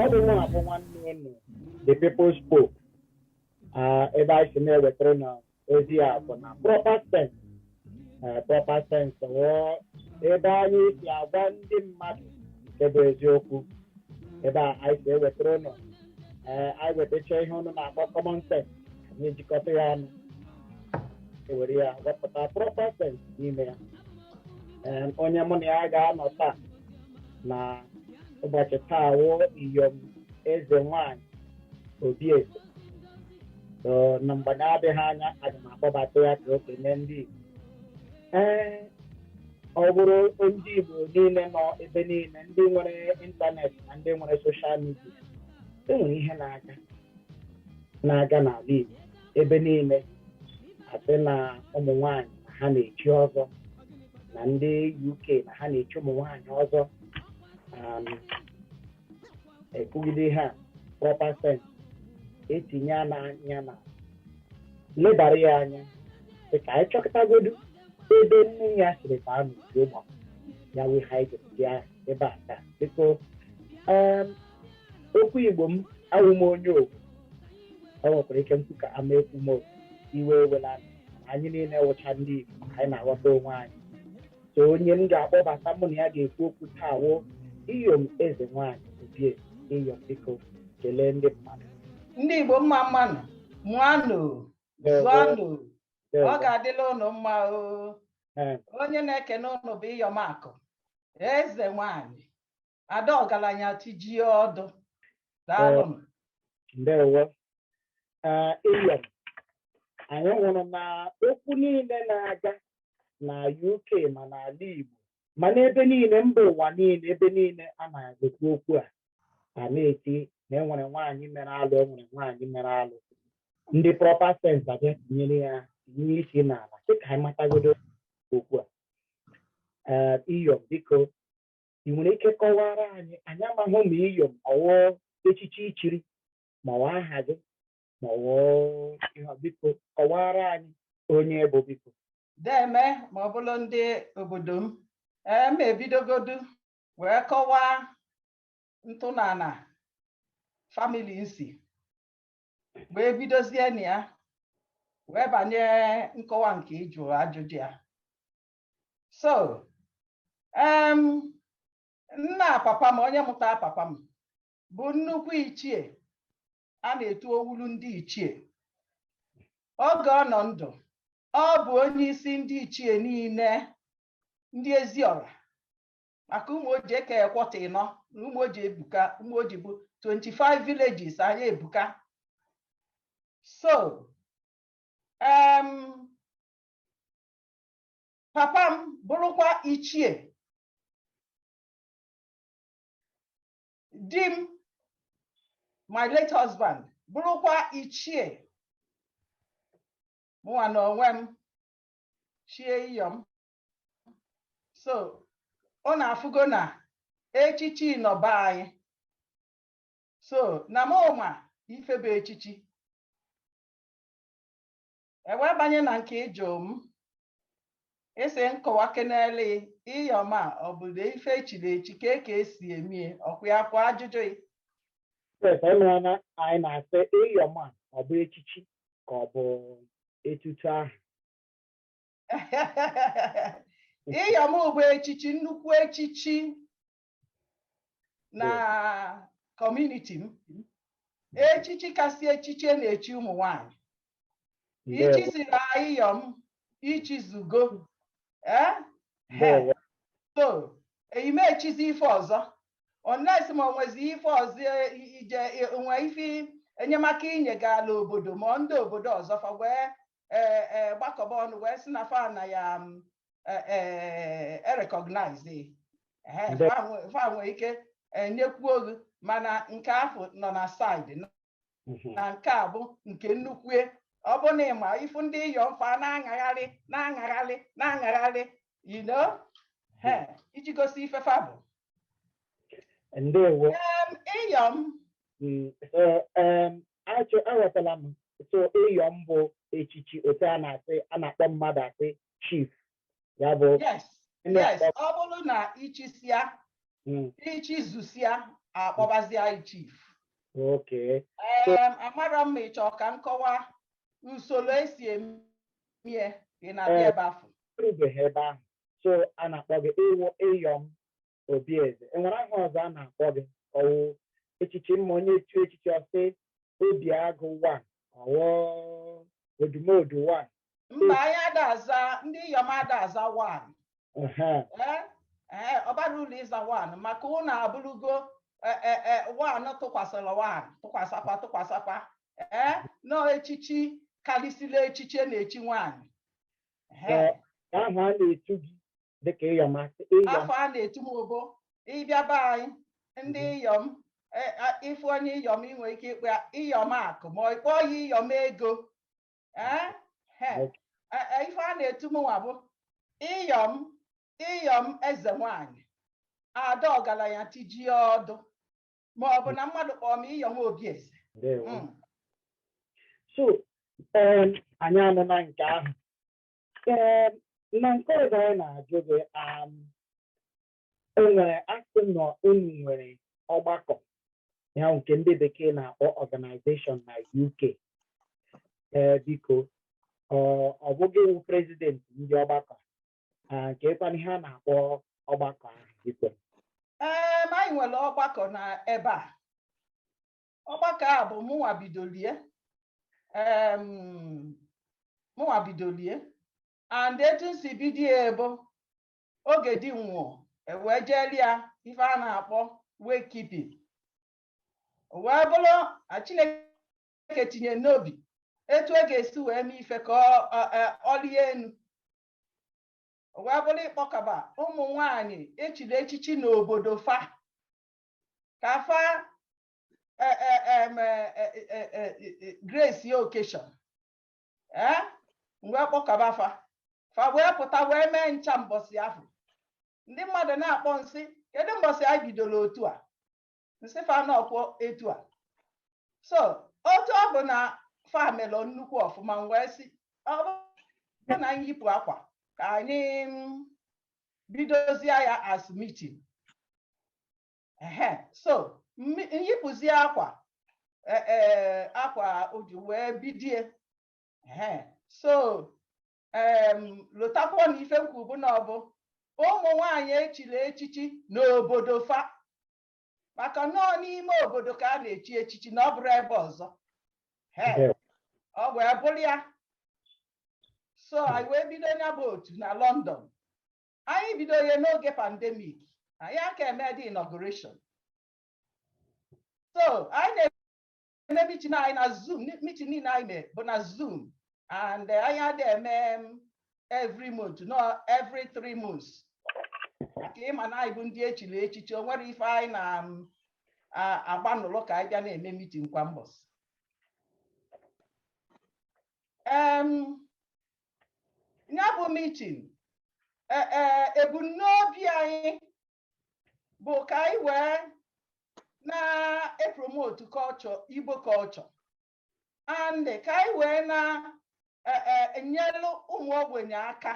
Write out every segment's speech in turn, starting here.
ọ bụ nwa abụ nwanne unu the people's pope Ah, ebe anyị si na-ewetara unu ozi a bụ na proper sense Ah, proper sense wụ ebe anyị si agwa ndị mmadụ nke bụ eziokwu ebe anyị si ewetara unu ee anyị wetacha ihe unu na-akpọ common sense anyị ejikọta ya ọnụ ewere ya wepụta proper sense n'ime ya Ee, onye mụ na ya ga-anọ taa na ụbọchị taa wụ iyom eze nwanyị Obieze So, na mgbe na-adịghị anya aga m akpọbata ya ka o kenee ndị Igbo Ee, ọ bụrụ ndị Igbo niile nọ ebe niile ndị nwere ịntanetị na ndị nwere soshal midia e nwere ihe na-aga na-aga n'ala Igbo ebe niile a sị na ụmụ nwanyị na ha na-echi ọzọ na ndị UK na ha na-echi ụmụ nwanyị ọzọ um, ekwugide ihe a proper sense etinye anya na-elebara ya anya sị ka anyị chọkọtagodu ebe nne ya siri ka a n'uju ụgbọ ya wụ ihe anyị ji bịa ebe a taa biko em, okwu igbo m awụ m onye owu o nwekwara ike m kwu ka ama ekwu m owu iwe ewela anyị niile wụcha ndị igbo anyị na-aghọta onwe anyị so onye m ga-akpọbata mụ na ya ga-ekwu okwu taa wụ iyom eze nwaanyị Obieze iyom biko kelee ndị mmadụ ndị igbo mma mmanụ mụọnụ zụọnụ ọ ga-adịla ụnụ mma o onye na-ekene ụnụ bụ iyom akụ eze nwaanyị ada ọgalanya tijie ọdụ daalụ m. ndewo ee iyom anyị hụrụ na okwu niile na-aga na UK ma n'ala Igbo ma n'ebe niile mba ụwa niile ebe niile a na-ekwu okwu a a na-eti na enwere nwaanyị mere alụ enwere nwaanyị mere alụ ndị proper sense abịa tinyere ya tinye isi n'ala sị ka anyị matagodo okwu a ee iyom biko I nwere ike kọwaara anyị anyị amaghị ma iyom ọ wụ echichi i chiri ma ọ aha gị ma ọ ihe biko kọwaara anyị onye ị bụ biko deeme ma ọ bụlụ ndị obodo m ee m ebidogodu wee kọwaa ntọnala famili m si wee bidozie na ya wee banye nkọwa nke ị jụ ajụjụ ya so um, nna papa m onye mụta papa m bụ nnukwu ichie a na-etu owulu ndị ichie oge ọ nọ ndụ ọ bụ onye isi ndị ichie niile ndị Eziọra maka Ụmụoji e kee quarter ịnọ na Ụmụoji ebuka Ụmụoji bụ 25 villages anyị ebuka so um, papa m bụrụkwa ichie di m my late husband bụrụkwa ichie mụnwa na onwe m chie iyom so ọ na-afụgo na echichi nọ be anyị so na m ma ife bụ echichi e wee banye na nke ị jụ m ị sị m kọwakenelu iyom a ọ bụdụ ife e chiri echi ka ka e si emie ọkwa ya bụ ajụjụ gị Yes, anyị mara na anyị na-asị iyom a ọ bụ echichi ka ọ bụ etutu aha iyom bụ echichi nnukwu echichi na community m echichi kasị echichi e na-echi ụmụ nwanyị i chisia iyom i chizugo eh? so eyi m echizi ife ọzọ unless ma o nwezi ife ọzọ e, ije e, nwe ife enyemaka i nyegala obodo ma ndị obodo ọzọ fa wee gbakọba ọnụ wee sị na fa na ya e-recognize e, e fa nwee ike enyekwuo gị mana nke afụ nọ na side mhm. na nke a bụ nke nnukwu ọ bụ na ịma ifu ndị iyom fa na-aṅagharị na-aṅagharị na-aṅagharị you know mhm. iji gosi ife fa bụ ndewo iyom mm, aghọtala m so iyom bụ echichi otu a na-asị a na-akpọ mmadụ asị chief ya bụ yes yes ọ bụrụ na i chisia hmm. i chizusia a kpọbazia ị chief okay um amarọ m ma ị chọ ka m kọwa usoro e si emie ị na-abịa eh, ebe afụ erubeghị ebe ahụ so a na-akpọ gị ịwụ iyom obi eze e nwere aha ọzọ a na-akpọ gị ọ wụ echichi mma onye etu echichi ọ sị obi agụ wan ọ wụ odumodu wan mba anyị ada aza ndị iyom ada aza wan ee ọ bara uru ịza wan maka ụnụ abụrụgo wan tụkwasịrị wan tụkwasakwa tụkwasakwa ee nọ echichi karịsịrị echichi na-echi nwaanyị aha a na-etu gị dịka iyom a sị iyom afa a na-etu m ọ bụ ị bịa be anyị ndị iyom e- a- ị fụ onye iyom i nwere ike ịkpọ ya iyom akụ ma ị kpọọ ya iyom ego Eh, he. Ok. Eh, eh, ife a na-etu m nwa bụ iyom iyom eze nwanyị ada ọgalanya tijie ọdụ ma ọ bụ na mmadụ kpọọ m iyom obi eze ndewo Mm. so um, anyị anụna nke ahụ Ee, na nke ọzọ anyị na-ajụ gị um, o nwere a sị na unu nwere ọgbakọ ya nke ndị bekee na-akpọ organization na UK ee biko ọ ọ bụ gị wụ president ndị ọgbakọ a kekwanụ ihe a na-akpọ ọgbakọ ahụ biko Ee, ma anyị nwere ọgbakọ na ebe a ọgbakọ a bụ mụnwa bidolie mụnwa bidolie and etu m si bido ya bụ oge di m nwụọ e wee jeeli ya ife a na-akpọ wake keep o wee bụrụ Chineke tinye n'obi etu ọ e ga-esi wee mee ife ka o lie enu wee bụrụ ịkpọkọba ụmụ nwanyị e chiri echichi n'obodo fa ka fa eh, eh, em, eh, eh, eh, eh, eh, grace ya occasion ee m wee kpọkọba fa fa wee pụta wee mee ncha mbọsị afụ ndị mmadụ na-akpọ m sị kedu mbọsị anyị bidoro otu a m sị fa n'ọkwọ etu a so otu ọ bụ na fa melụ nnukwu ọfụma m wee sị ọ bụrụ na anyị yipụ akwa ka anyị mm, bidozie ya as meeting ehe so m yipụzie akwa e, e, akwa oji wee bidie ehe so lotakwa na ife m kwu bụ na ọ bụ ụmụ nwanyị e chiri echichi n'obodo fa maka na ọọ n'ime obodo ka a na-echi echichi na ọ bụrọ ebe ọzọ He, Ndewo. o wee bụrụ ya so anyị wee bido ya bụ otu na London anyị bido ya n'oge pandemic anyị aka eme the inauguration so anyị na na-eme mitin anyị na zoom mitin niile anyị mee bụ na zoom and eh, anyị adị eme every month no every three months maka ịma na anyị bụ ndị echiri echichi o nwere ife anyị na-agba n'ụlọ ka anyị bịa na-eme mitin kwa mbọsị Em, ya bụ mitin ebumnobi anyị bụ ka anyị wee na-epromotu culture Igbo culture and ka anyị wee na-enyelụ e, ụmụ ogbenye aka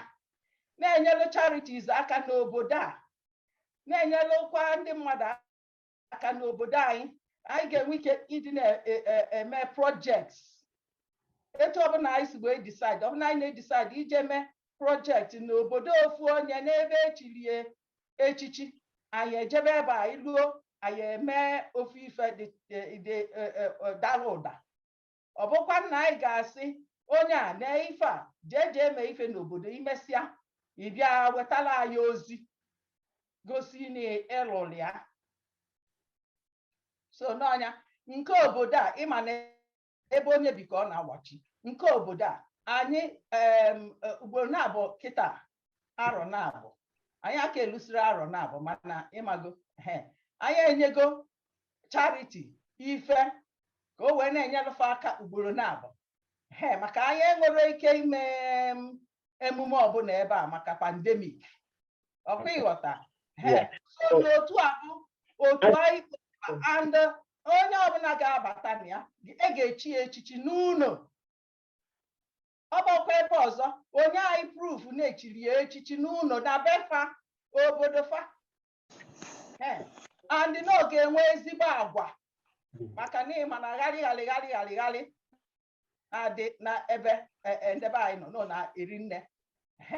na-enyelụ charities aka n'obodo a na-enyelụkwa ndị mmadụ aka n'obodo anyị anyị ga-enwe ike ịdị na-eme e, e, projects etu ọbụla anyị si wee decide ọbụla anyị na-edecide ije mee project n'obodo ofu onye n'ebe echilie echichi anyị ejebe ebe anyị luo anyị eme ofu ife dị e, e, e, dara ụda ọ bụkwa na anyị ga-asị onye a na ife a jee jee mee ife n'obodo i mesịa ị bịa wetara anyị ozi gosi na ị lụrụ ya so n'ọnya nke obodo a ịma na ebe onye bi ka ọ na-awachi nke obodo a anyị em, e, ugboro naabụ kịta arọ naabụ anyị aka elusiri arọ naabụ mana ịmago he anyị enyego chariti ife ka o wee na-enyelụ fa aka ugboro naabụ he maka anyị enwerọ ike ime emume ọbụla ebe a maka pandemik ọ kwa ị ghọta he otu a bụ otu anyị and onye ọbụla ga-abata na ya e ga-echi ya echichi n'ụnọ ọ bụkwa ebe ọzọ o nye anyị proof na e chiri ya echichi n'ụnọ na be fa obodo fa and na ọ ga-enwe ezigbo agwa maka na ịma na gharị gharị gharị gharị gharị na-adị na ebe e, e, ndị be anyị nọ nọ na-eri nne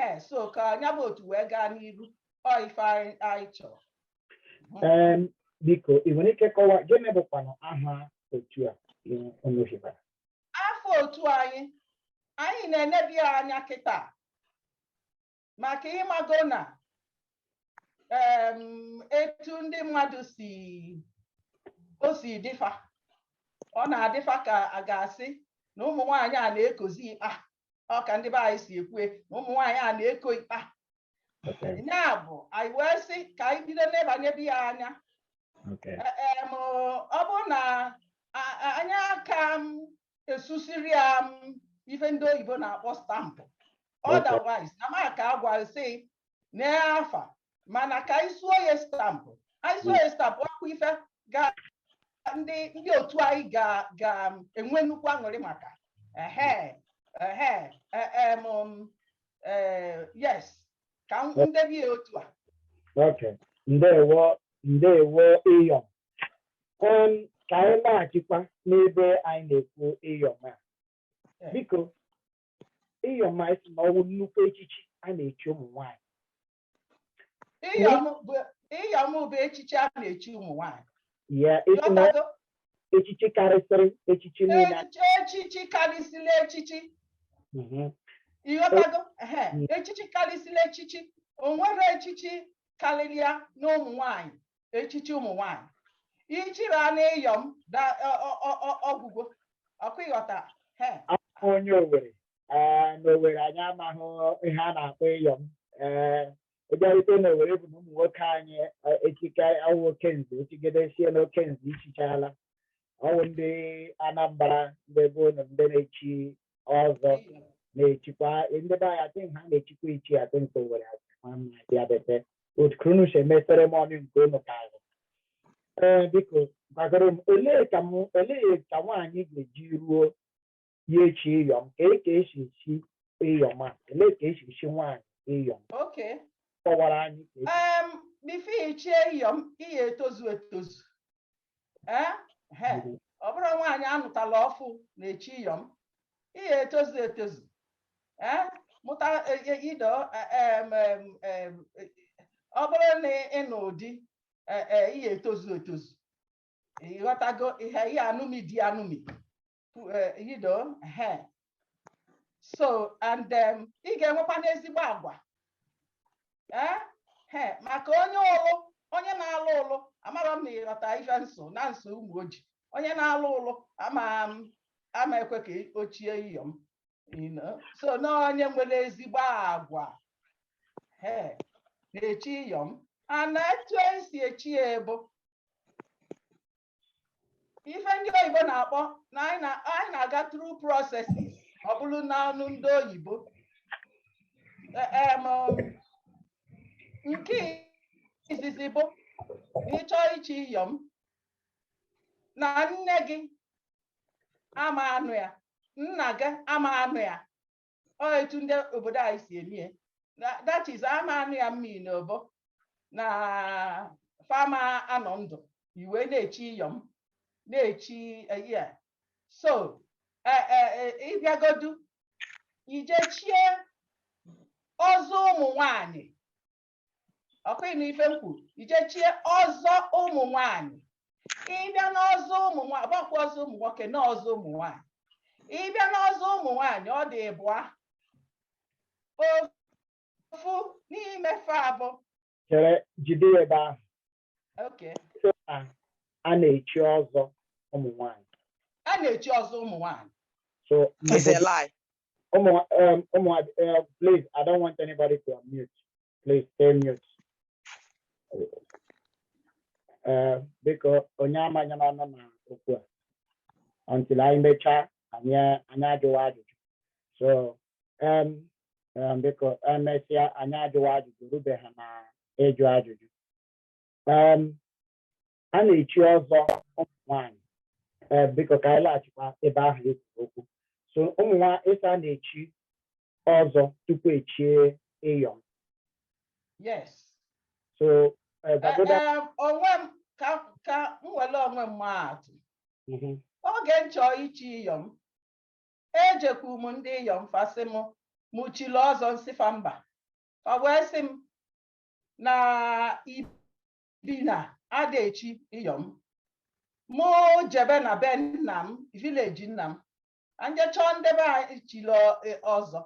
ee so ka nya bụ otu wee gaa n'iru ọ ife anyị chọrọ biko ị nwere ike kọwa gịnị bụkwanụ aha otu a unu hibara afa otu anyị anyị na-enebe ya anya kịta maka ịmago na etu ndị mmadụ si o si dịfa ọ na-adịfa ka a ga-asị na ụmụ nwaanyị a na-ekozi ikpa ọ ka ndị be anyị si ekwu na ụmụ nwaanyị a na-eko ikpa ya bụ anyị wee sị ka anyị bido nebanyebe ya anya ọ bụrụ na anyị aka esusiri ya m ife ndị oyibo na-akpọ stampụ otherwise na m aka-agwasị na afa mana ka anyị suo ya stampụ anyị suo ya stampụ ọkwa ife ga ndị ndị otu anyị ga ga enwe nnukwu aṅụrị maka ehe ehe em yes ka m debe ya otu a Okay. Ndewo, ndewo Iyom. Em, ka anyị laghachikwa n'ebe anyị na-ekwu Iyom a. biko Iyom a a sị na ọ wụ nnukwu echichi a na-echi ụmụ nwaanyị Iyom bụ- Iyom bụ echichi a na-echi ụmụ nwaanyị ya a sị na Ghọtago? echichi karịsịrị echichi niile a- Echichi- echichi karịsịla echichi Mhm. ị ghọtago Ehe, Mm. echichi karịsịla echichi o nwere echichi karịrị ya n'ụmụ nwaanyị echichi ụmụ nwanyị i chiria na Iyom da- ọ- ọ- ọ- ọ- ọ gwụgo ọkwa ị ghọta he Afọ onye Owere ee n'Owere anyị amaghị ihe a na-akpọ Iyom ee ị bịarute n'Owere bụ na ụmụ nwoke anyị eh, echike ọ wụ okenze echigide sie na okenze i chichaala ọ wụ ndị Anambra ndị be unu ndị na-echi ọzọ na-echikwa ndị be anyị adịghị ha na-echikwa ichi adị nke Owere adị ma mma dị abete otu ka unu si eme seremoni nke unu ka ahụ ee biko gwagoro m olee ka m olee ka nwaanyị ga-eji ruo ya echi Iyom ka e ka esi echi Iyom a olee ka esi echi nwaanyị Iyom Okay. kọwara anyị ka esi Um, before i chie Iyom, ị ya-etozu etozu. ee he ọ bụrọ nwaanyị anụtala ọfụụ na-echi iyom ị ya-etozu etozu ee mụta e- e- you know e- em, em, em, e- ọ bụrụ na ị nụọ di e- e, ị ya-etozu etozu ị ghọtago ị ya ị ya-anụmi di anụmi uh, you know, uh, so and um, ị ga-enwekwanụ ezigbo agwa eh? Eh, maka onye ụlụ onye na-alụ ụlụ amarọ m ma ị ghọta ife m sụ na nsụ Ụmụoji onye na-alụ ụlụ ama ama ekwe ka o chie iyom so na onye nwere ezigbo agwa eh, na-echi iyom and etu esi echi ya bụ ife ndị oyibo na-akpọ na anyị na- anyị na-aga through processes ọ bụrụ n'ọnụ ndị oyibo E- em, um, nke izizi bụ ị chọọ ichi iyom na nne gị ama anọ ya nna gị ama anọ ya ọ etu ndị obodo anyị si emie that is a ma anụ ya mmiri na ọ bụ na fa ama anọ ndụ i wee na-echi iyom na-echi eh, ya so eh, eh, ị bịagodu i je chie ọzọ ụmụ nwanyị ọkwa ị nụ ife m kwu i je chie ọzọ ụmụ nwanyị ị bịa n'ọzọ ụmụ nwanyị gbakwa ọzọ ụmụ nwoke na ọzọ ụmụ nwanyị ị bịa n'ọzọ ụmụ nwanyị ọ dị ịbụa ofu n'ime fa abụ chere jide ya ebe ahụ Okay. So, a a na-echi ọzọ ụmụ nwanyị. A na-echi ọzọ ụmụ nwanyị. So It's a lie. ụmụ um, ụmụ uh, please I don't want anybody to unmute. Please stay mute. Uh, biko onye amanyana ọnụ na okwu a until anyị mechaa anyị anyị ajụwa ajụjụ. So um, um, biko emesịa anyị ajụwa ajụjụ rube ha na ịjụ ajụjụ. um, a na-echi ọzọ ụmụ nwanyị eh, biko ka anyị laghachikwa ebe ahụ e kwuru okwu so ụmụ nwanyị ị sị a na-echi ọzọ tupu echie iyom yes so eh, gbagoda Ee, onwe m ka ka m were onwe m maa atụ Mhm, oge m chọọ ichi iyom ejekwu m ndị iyom fa sị m mụ chiri ọzọ m sị fa mba fa wee sị m na ibi na a da echi iyom mụ jebe na be nna m village nna m m je chọọ ndị be anyị chili e, ọzọ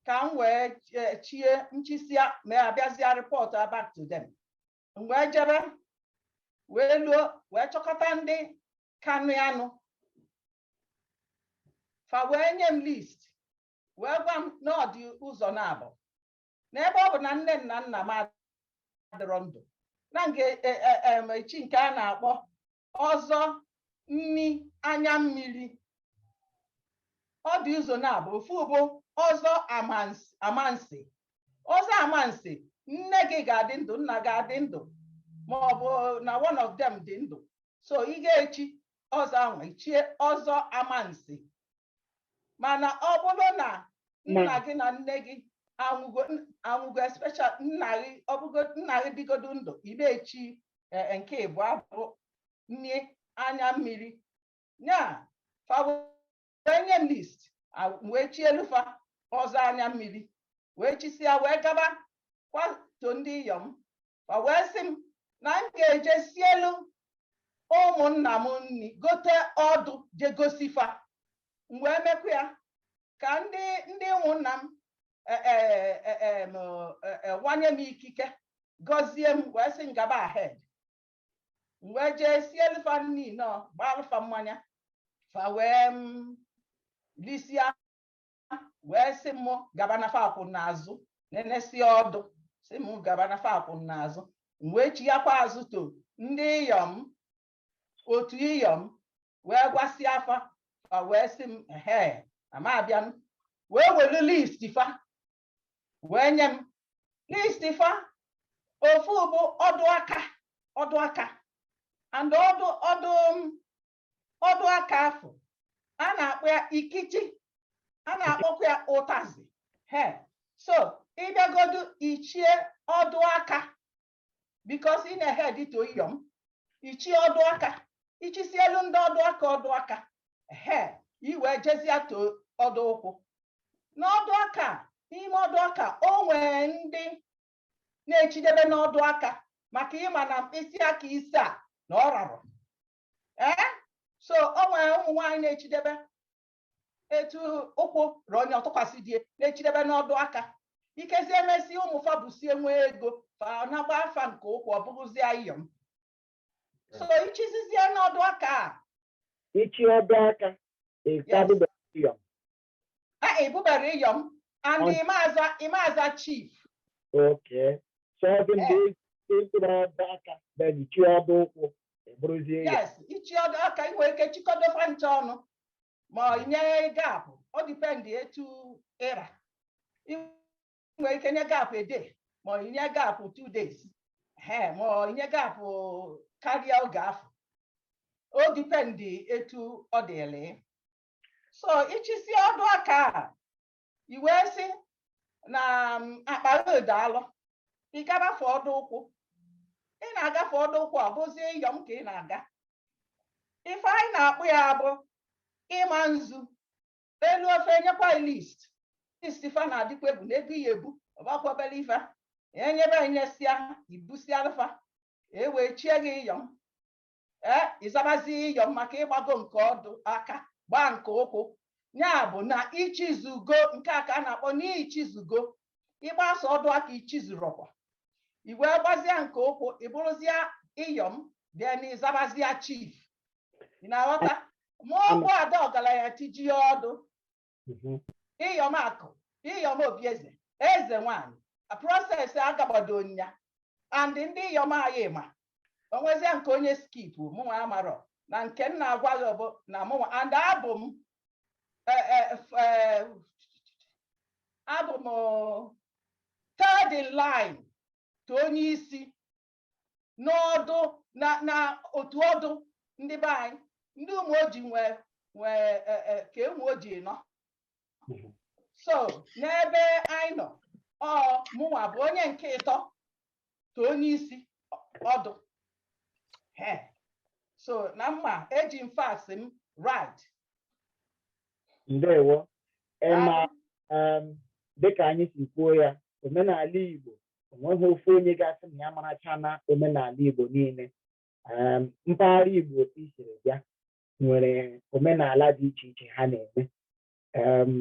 ka m wee e, chie m chisia m abịazịa rịpọtụa back to them m wee jebe wee luo wee chọkọta ndị kanụ anụ fa wee nye m list wee gwa m na ọ dị ụzọ naabọ na ebe ọ bụ na nne na nna m adịrọ ndụ na m ga-e, e, em, chi nke a na-akpọ ọzọ nni anya mmiri ọ dị ụzọ naabọ ofu bụ ọzọ amansi amansi ọzọ amansi nne gị ga-adị ndụ nna gị adị ndụ ma ọ bụ na one of them dị ndụ so ị ga-echi ọzọ ahụ i chie ọzọ amansi mana ọ bụrụ na nna gị na nne gị anwụgo anwụgo especially nna gị ọ bụgo nne gị dịgodu ndụ ị ga-echi e, e, nke ịbụa bụ nni anya mmiri ya fa wee nye m list wee chielu fa ọzọ anya mmiri wee chisịa wee gaa back to ndị iyom fa wee sị m na m ga-eje sielu ụmụnna m nni gote ọdụ je gosi fa m wee mekwa ya ka ndị ndị ụmụnna m e, e, e, wanye m ikike gọzie m wee sị m gaba ahead m wee jee sielu fa nni nọ gbaalụ fa mmanya fa wee m lisia wee sị m gaba na fa kwụ n'azụ nenesịa ọdụ sị m gaba na fa kwụ n'azụ m wee chighakwa azụ to ndị iyom otu iyom wee gwasịa fa fa wee sị m ehe ama abịa m wee welu list fa wee nye m list fa ofu bụ ọdụ aka ọdụ aka and ọdụ ọdụ ọdụ aka afụ a na-akpọ ya ikichi a na-akpọkwa ya ụtazi he so ị bịagodu i chie ọdụ aka because ị na-ehead to iyom i chie ọdụ aka i chisielu ndị ọdụ aka ọdụ aka he i wee jezia to ọdụ ụkwụ n'ọdụ aka n'ime ọdụ aka o nwere ndị na-echidebe n'ọdụ aka maka ị ma na mkpịsị aka ise a na ọ rarọ ee eh? so o nwere ụmụ nwaanyị na-echidebe etu ụkwụ ra onye ọ tụkwasị di e na-echidebe n'ọdụ aka ikezi emesi ụmụ fa busie nwee ego fa na-agba fa nke ụkwụ ọ bụrụzia iyom so ichizizie n'ọdụ aka a ichi ọdụ aka Ah, ị bụberọ Iyom and And- ị ma-aza ị ma-aza Chief. okay sọzi mgbe ị tụrụ ọdụ aka na ejichi ọdụ ụkwụ ị bụrụzie ya Yes, ichi ọdụ aka ị nwere ike chịkọdo fa ncha ọnụ ma i nye gap ọ depend etu ị ra Ị nwere ike nye gap a day ma i nye gap two days ehe ma i nye gap karịa oge afụ ọ depend etu ọ dịrị so i chisi ọdụ aka a i wee sị na um, akpa gị dị alọ ị gabafe ọdụ ụkwụ ị na-agafe ọdụ ụkwụ ọ bụzie iyom ka ị na-aga ife anyị na-akpọ ya bụ ịma nzu e luo fa enyekwa ị list list fa na-adịkwa egwu na ego ya ebu ọbakwabela ife enyebe enyesịa i busialụ fa e wee chie gị iyom ee ị zabazi iyom maka ị gbago nke ọdụ aka gbaa nke ụkwụ ya bụ na i chizugo nke a ka a na-akpọ n'ichizugo ị gbaa sọ ọdụ aka i chizurọkwa i wee gbazia nke ụkwụ ị bụrụzia iyom then ị zabazia chief ị na-aghọta ma ọ bụ ada ọgaranya tijie ọdụ mhm. ịyọm akụ ịyọm obieze eze nwanyị process agagbado nya and ndị ịyọm anyị ma o nwezia nke onye skip mụnwa amarọ na nke m na-agwa gị bụ na mụnwa and abụ m e, e, e, abụ m third in line to onye isi n'ọdụ na na otu ọdụ ndị be anyị ndị Ụmụoji nwe nwe e, e, ka Ụmụoji nọ so n'ebe anyị nọ ọ mụnwa bụ onye nke ịtọ to onye isi ọdụ ee. so na m ma eji m facts m right ndewo ị ma um, dịka anyị si kwuo ya omenala igbo onweghị ofu onye ga-asị na ya marachana omenala Igbo niile um, mpaghara Igbo otu i siri bịa nwere omenala dị iche iche ha na-eme um,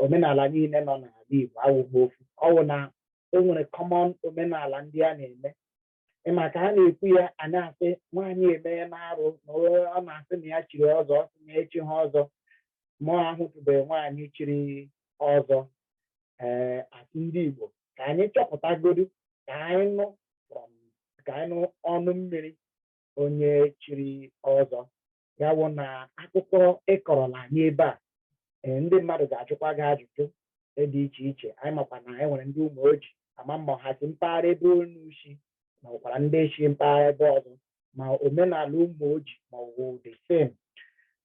omenala niile nọ n'ala Igbo awụghị ofu ọwụ na e nwere common omenala ndị a na-eme ị ma ka a na-ekwu ya a na-asị nwaanyị emena arụ na ọ na-asị na ya chiri ọzọ ọ sị ya echiha ọzọ mụ ahụtụbeghị nwaanyị chiri ọzọ ee a sị ndị Igbo ka anyị chọpụtagodi ka anyị nụ from ka anyị nụ ọnụ mmiri onye chiri ọzọ ya wụ na akụkọ ị kọrọla anyị ebe a ee, ndị mmadụ ga-ajụkwa gị ajụjụ dị iche iche anyị makwa na anyị nwere ndị Ụmụoji ama m ma ha si mpaghara ebe unu si ma ọkwara ndị si mpaghara ebe ọzọ ma omenala Ụmụoji ma ọ bụ the same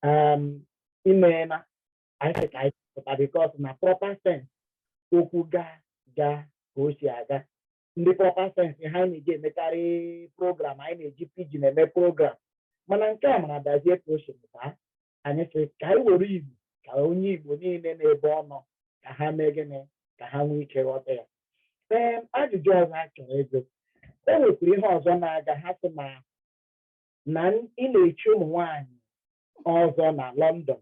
um, imeela anyị sị ka anyị pụta because na proper sense okwu ga ga ka o si aga ndị proper sense ha anyị na-eji emekarị program anyị na-eji pidgin eme program mana nke a mara dazie ka o si pụta anyị sị ka anyị were igbo ka onye igbo niile n'ebe ọ nọ ka ha mee gịnị ka ha nwee ike ghọta ya ee ajụjụ ọzọ a chọrọ ịjụ e nwekwara ihe ọzọ na-aga ha sị na na ị na-echi ụmụ nwaanyị ọzọ na London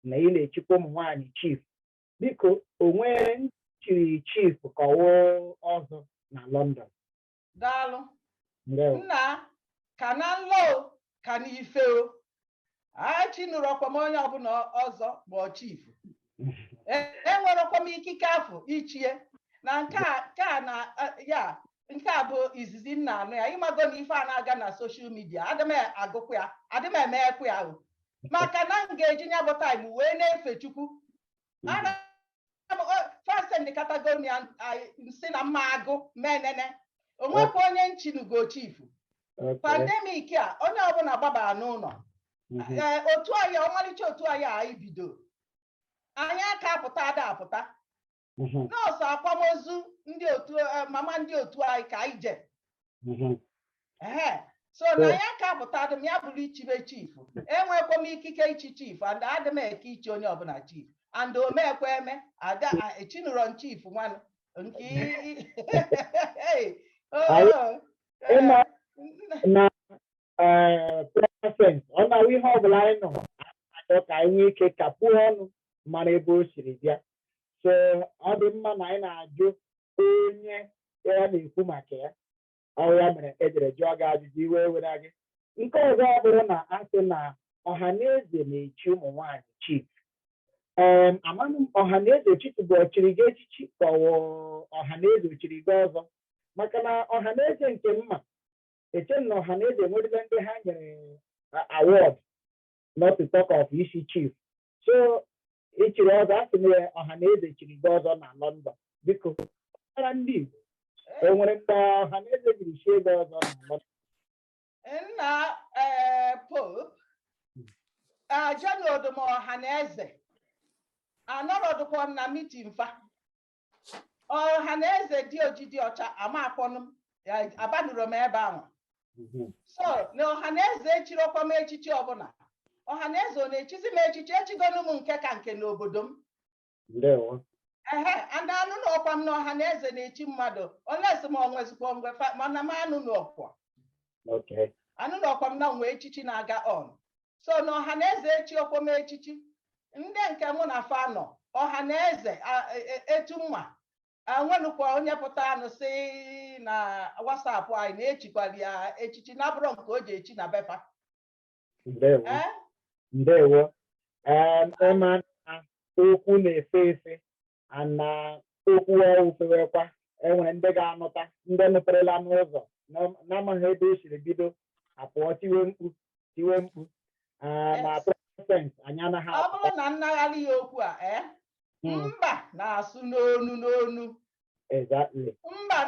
na ị na-echikwa ụmụ nwaanyị chief biko o nwere ndị chiri chief ka ọ wụ ọzọ na London daalụ nna ka na nlọ o, ka n'ife o echinurọkwa m onye ọbụla ọzọ ma ọ bụ chief enwerọkwa m ikike afụ ichie na ya nke a bụ izizi m na-anụ ya ị mago na ife a na-aga na social media adị m agụkwa ya adị m emekwa ya ahụ maka na m ga-eji nya bụ time wee na-efe chukwu fasend categorically sị na m ma-agụ m enene onwekwa onye m chinugo chief pandemic a onye ọbụla gbabara n'ụnọ mhm. eh, otu anyị ọmalịcha otu anyị anyị bido anyị aka apụta ada apụta mhm. nọọ sọ akwamozu ndị otu eh, mama ndị otu anyị ka anyị je mhm. so na anyị aka apụta adị m ya bụrụ ichibe chief enwekwa m ikike ichi chief and adị m eke ichi onye ọbụla chief and o mekwa eme ada echinụrọ m chief nwanụ nke oh, oh, oh. na ee Princess ọ na-awụ ihe ọ bụla anyị na-achọ ka anyị nwee ike kapụọ ọnụ mara ebe o siri bịa so ọ dị mma na anyị na-ajụ onye ya na-ekwu maka ya ọ ya mere ejere jụọ gị ajụjụ iwe were gị nke ọzọ ọ bụrụ na a sị na ọha na eze na-echi ụmụ nwaanyị chief ee amanụ m ọha na eze chitụ bụ o chiri gị echichi ka ọ wụ ọha na eze o chiri gị ọzọ maka na ọha na eze nke m ma eche m na ọha na eze enwerela ndị ha nyere award not to talk of ichi chief so i chiri ọzọ a sị na ọha na eze chiri gị ọzọ na London biko ada ndị Igbo o nwere mgbe ọha na eze jiri chie gị ọzọ na London nna eh, pope ajanodum ọha na eze anọrọdụkwa m na meeting fa ọha na eze dị oji dị ọcha amakwọnụ m ya abanụrọ m ebe anwa so na ọha na eze echirọkwa m echichi ọbụla ọha na eze ọ na-echizi m echichi echigonu m nke ka nke n'obodo m ndewo ehe and anụnọkwa m na ọha na eze na-echi mmadụ unless ma o nwezikwa mgbe fa- mana m anụnọkwa okay anụnọkwa m na enwe echichi na-aga on so na ọha na eze echirọkwa m echichi ndị nke mụ na fa nọ ọha na eze e, e, etu m ma enwenukwa onye pụtanụ sị na WhatsApp anyị na echikwara ya echichi na-abụrọ nke o ji echi na be fa ndewo ị ma na okwu na-efe efe and okwu ahụ fewekwa enwere ndị ga-anụta ndị nụperela n'ụzọ na-amaghị ebe o siri bido apụọ tiwe mkpu tiwe mkpu na Princess anyị anaghị ọ bụrụ na nnagharị ya okwu a eh? hmm. mba na-asụ n'onu n'onu mba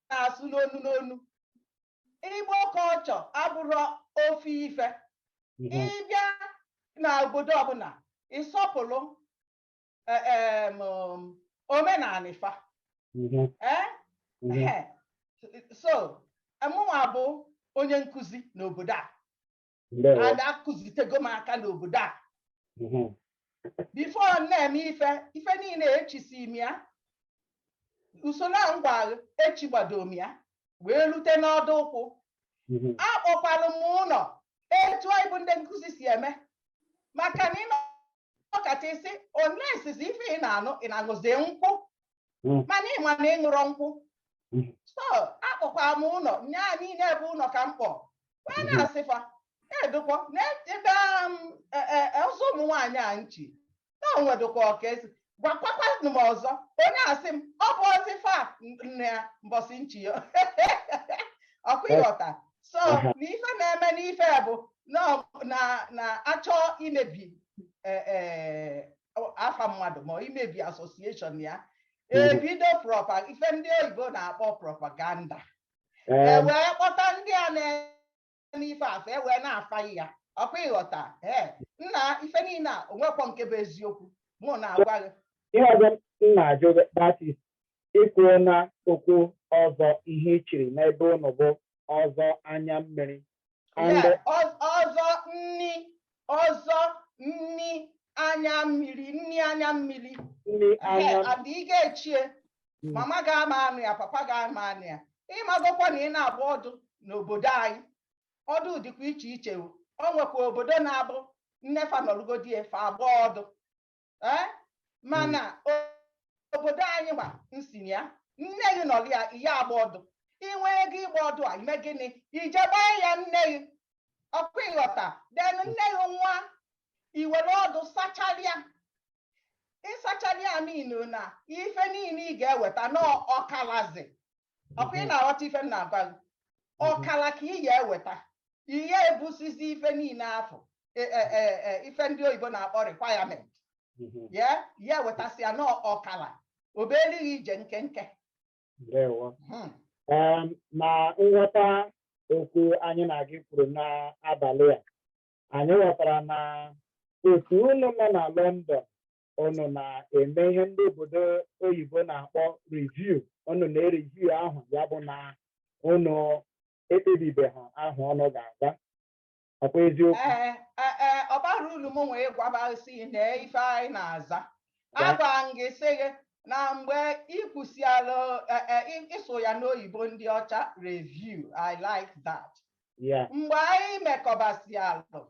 na-asụ n'onu n'onu Igbo culture abụrọ ofu ife ị bịa na obodo ọbụla ị sọpụrụ em, um, omenani fa Mhm. Eh? Mhm. Ehe. so mụnwa bụ onye nkụzi n'obodo a Ndewo. and akụzitego m aka n'obodo a Mhm. before m na-eme ife ife niine echisi m ya usoro a ngwa echigbado m ya wee lute n'ọdụ ụkwụ Mhm. akpọkwalụ m ụnọ etu anyị bụ ndị nkụzi si eme maka na ịnọ ọ kacha isi onesizi ife ị na-aṅụ ị na-aṅụzi nkwụ hmm. mana ịma na ịṅụrọ nkwụ hmm. so akpọkwara m ụnọ nye anyị niile ebe ụnọ ka m kpọ wee hmm. na-asị fa edukwa n'ebe um, e, e, e, ọzọ ụmụ nwaanyị a nchi na onwedụkwa ọka esi gwakwakwanụ m ọzọ onye asị m ọ bụ ozi fa nne ya mbọsị nchi ya ọkwa ịghọta so na ife na-eme n'ife bụ na-achọ imebi e, e, afa mmadụ ma imebi association ya mm-hmm. ebido propa ife ndị oyibo na-akpọ propaganda e wee kpọta ndị a na-eme ife afụ e wee na-afa ya ọkwa ịghọta ee nna ife niile a onwekwọ nke bụ eziokwu mụ na-agwa gị ihe ọzọ m na-ajụ Ikwuo na okwu ọzọ ihe i chiri n'ebe unu bụ ọzọ anya mmiri. And Yeah, ọ- ọzọ nni ọzọ nni anya mmiri nni anya mmiri nri Ehe, anya and ị ga-echie Mm. mama gị ama anụ ya papa gị ama anụ ya ịmagokwa na ị na-agba ọdụ n'obodo anyị ọdụ dịkwa iche iche o O nwekwa obodo na-abụ nne fa nọrụgodie fa agba ọdụ ee mana obodo anyị gba nsi na ya nne gị nọrọ ya ị ya agba ọdụ inwe ego ịgba ọdụ a ime gịnị ije gbaa ya nne gị ọkwa ịghọta then nne gị nwa iwere ọdụ sacharịa ịsacharịa mean na ife niile ị ga-eweta n'ọkalazi ọkwa ị na-aghọta ife m na-agwa gị ọkala ka ị ya eweta ihe ebusizi ife niile afụ e, e, e, ife ndị oyibo na-akpọ requirement ya ị ya ewetasị ya n'ọkala o beli gị ije nkenke hmm. na nghọta okwu anyị na gị kwuru n'abalị a anyị ghọtara na otu unu nọ na London unu na-eme ihe ndị obodo oyibo na-akpọ review unu na-ereview aha ya bụ na unu ekpebibeghị aha unu ga-aza ọkwa eziokwu ee ee, ee, ọ bara ulu m nwee gwabasị na ife anyị na-aza Ya. agwa m gị sị gị na mgbe ikwusiala ịsụ ya n'oyibo ndị ọcha review i like that ya mgbe anyị mekọbasịalụ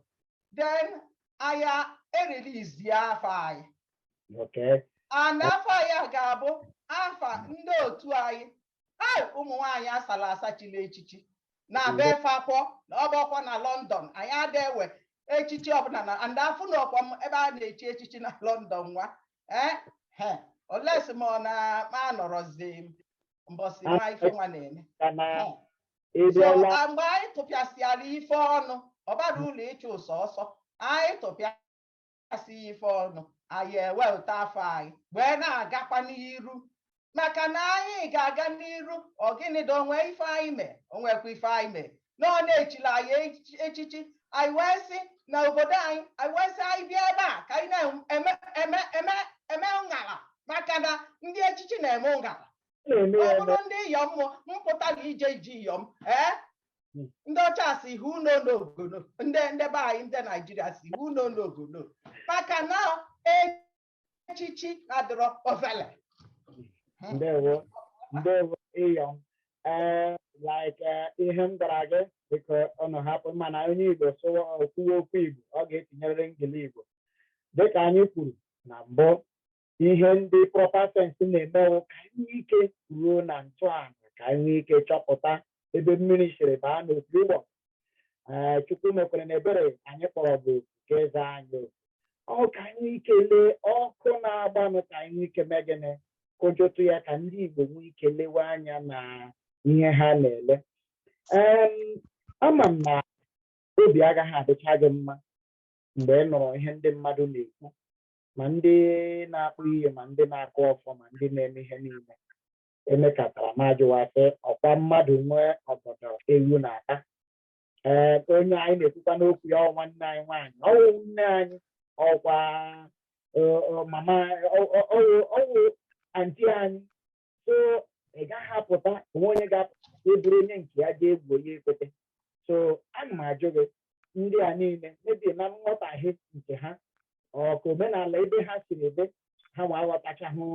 then anyị e-release afa anyị Okay. and afa anyị a ga-abụ afa ndị otu anyị anyị ụmụ nwaanyị asala asa chiri echichi na be fakwọ na ọ bụrọkwa na London anyị ada ewe echichi ọbụla na and afụnọkwa m ebe a na-echi echichi na London nwa ee he unless ma ọ na ma anọrọzi m mbọsị nwa ife nwa na-eme Ka na Eh, ịbịala ah, mgbe anyị tụpịasịara ife ọnụ ọ bara ụlọ ịchụ ụsọ ọsọ anyị tụpịasị ife ọnụ anyị ewepụta afa anyị wee na-agakwa n'iru maka na anyị ga-aga n'iru ọ gịnị dị o nwe ife anyị mee o nwekwa ife anyị mee na ọ na-echila anyị echichi anyị wee si na obodo anyị anyị wee sị anyị bịa ebe a ka anyị na-eme ngala maka na ndị echichi na-eme ngala ọ bụrụ ndị iyom pụta na-eje ije iyom ee hmm. ndị ọcha sị who no know go know ndị ndị be anyị ndị naijiria sị who no know go know maka na echichi adịrọ ovele hmm. ndewo ndewo iyom ee eh, like eh, ihe m gwara gị dịka ọnụ hapụ mana onye igbo sụwa kwuwe okwu igbo ọ ga-etinyerịrị engili igbo dịka anyị kwuru na mbụ ihe ndị proper sense na-eme wụ ka anyị nwee ike ruo na ntọala ka anyị nwee ike chọpụta ebe mmiri siri baa n'opi ụgbọ ee chukwu mekwere na ebere anyị kpọrọ oku ka a za anyị oku o ka anyị nwee ike lee ọkụ na-agbanụ ka anyị nwee ike mee gịnị kụjụtụ ya ka ndị igbo nwee ike lewe anya na ihe ha na-ele Em, ama m na obi agaghị adịcha gị mma mgbe ị nụrụ ihe ndị mmadụ na-ekwu ma ndị na-akpọ iyi ma ndị na-akụ ọfọ ma ndị na-eme ihe niile emekatara m ajụwa sị ọkwa mmadụ nwe ọgọdọ ewu na-ata ee onye anyị na-ekwukwa n'okwu ya ọwụ nwanne anyị nwaanyị ọwụ nne anyị ọkwa mama ọwụ anti anyị so ị gaghị apụta o nwe onye ga-apụta eburu onye nke ya ga egbuo ya ekwete so ana m ajụ gị ndị a niile maybe na nghọtahie nke ha ọ ka omenala ebe ha siri ebe ha nwa aghọtachahụ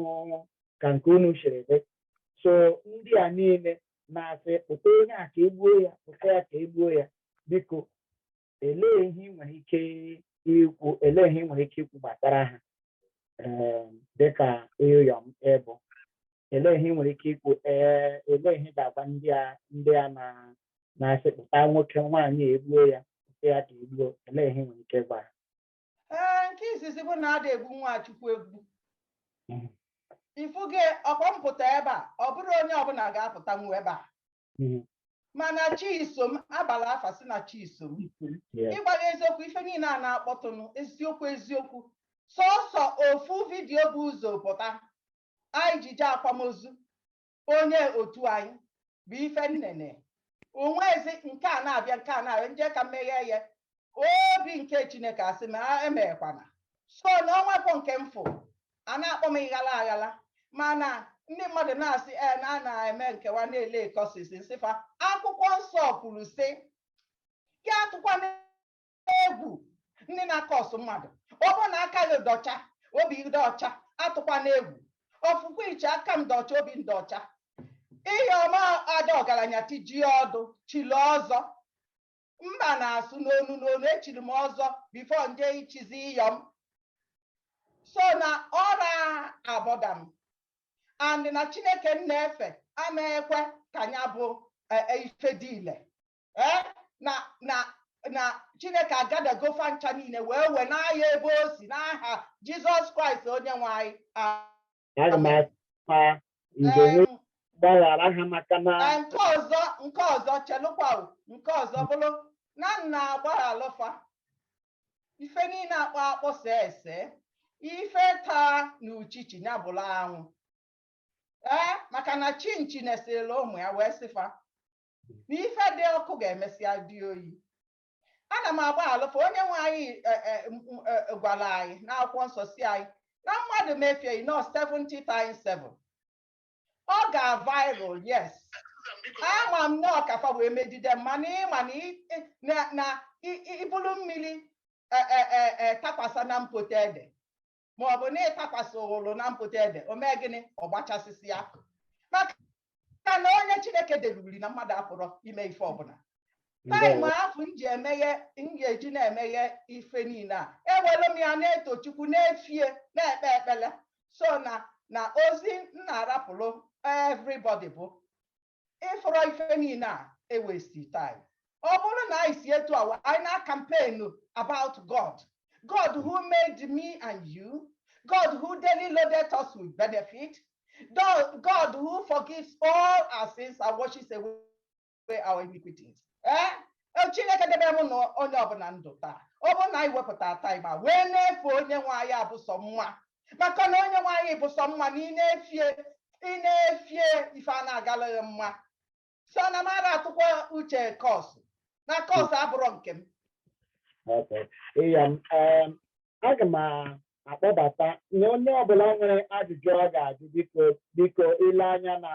ka nke unu siri ebe so ndị a niile na-asị kpụta onye a ka egbuo ya kpụta ya ka egbuo ya biko elee ihe ị nwere ike ikwu elee ihe ị nwere ike ikwu gbasara ha um, dịka iyom ị bụ elee ihe ị nwere ike ikwu ee elee ihe ị ga-agwa ndị a ndị a na-asị kpụta nwoke nwaanyị a egbuo ya kpụta ya ka egbuo elee ihe ị nwere ike gwa ha ee nke izizi bụ na ada egbu nwa chukwu egbu Mhm. ị fụgo ka m pụta ebe a ọ bụrọ onye ọbụla ga-apụtanwu ebe a mm-hmm. mana chisom abala afa sị na chisom ịgwa gị eziokwu ife niile a na-akpọtụnụ eziokwu eziokwu sọsọ ofu vidiyo bu ụzọ pụta anyị ji je akwamozu onye otu anyị bụ ife m nene onwezi nke a na-abịa nke a na-abịa m je ka m meghe ya obi nke chineke asị m emekwana so na onwerọ nke m fụ a na-akpọ m ịghala aghala mana ndị mmadụ na-asị e na a na-eme nkewa na-ele kọsis m sị fa akwụkwọ nsọ kwuru sị gị atụkwana egwu ndị na-akọsụ mmadụ ọ bụrụ na aka gị dị ọcha obi dị ọcha atụkwana egwu ọfụkwa iche aka m dị ọcha obi m dị ọcha iyom ada ọgaranya tijie ọdụ chili ọzọ mba na-asụ n'onu n'onu echiri m ọzọ bifo m je ichizi iyom so na ọra abọda m and na chineke m na-efe ama ekwe ka ya bụ e, e, ife dị ile eh, na na na chineke agadago fa ncha niile wee wee n'ahịa ebe o si n'aha jizọs kraịst onye nwe anyị aga m akpa njem Em, gbaghara ha maka na na nke ọzọ nke ọzọ chelụkwa o, nke ọzọ bụrụ na m na-agbaghalụ fa ife niile akpọ akpọ see ese ife taa na uchichi ya bụrụ anwụ ee maka na chinchi nesịla ụmụ ya wee sị fa na ife dị ọkụ ga-emesịa dị oyi ana m agbaghalụ fa onye nwe anyị e, e, e, gwara anyị n'akwụkwọ nsọ sị anyị na mmadụ mefie gị nọ 70 times 7 o gbaghalụ yes ama m na ọ ka fa wee megide m mana ị ma na i bulu mmiri takwasa na mpote ede ma ọ bụ na ị takwasị ụlụ na mpote ede o mee gịnị ọ gbachasịsị ya maka na onye chineke debiri na mmadụ apụrọ ime ife ọbụla taịm afụ m ji emeghe m ga-eji na-emeghe ife niile a ewere m ya na-eto chukwu na-efe ya na-ekpe ekpele so na na ozi m na-arapụrụ everybody bụ ị fụrụ ife niile a e-waste time ọ bụrụ na anyị si etu awa anyị na-campaign about God God who made me and you God who daily loaded us with benefit God who forgives all our sins and washes away our iniquities eh? eh Chineke debe m na onye ọbụla ndụ taa ọ bụrụ na anyị wepụta taịm a wee na-efe onye nwe anyị abụsọ nwa maka na onye nwaanyị bụ sọ mma na ị na-efie ị na-efie ife a na-agala gị mma so na m ara atụkwa uche cost na cost abụrụ nke m Okay. Iya, um, aga m a- akpọbata na onye ọbụla nwere ajụjụ ọ ga-ajụ biko biko ile anya na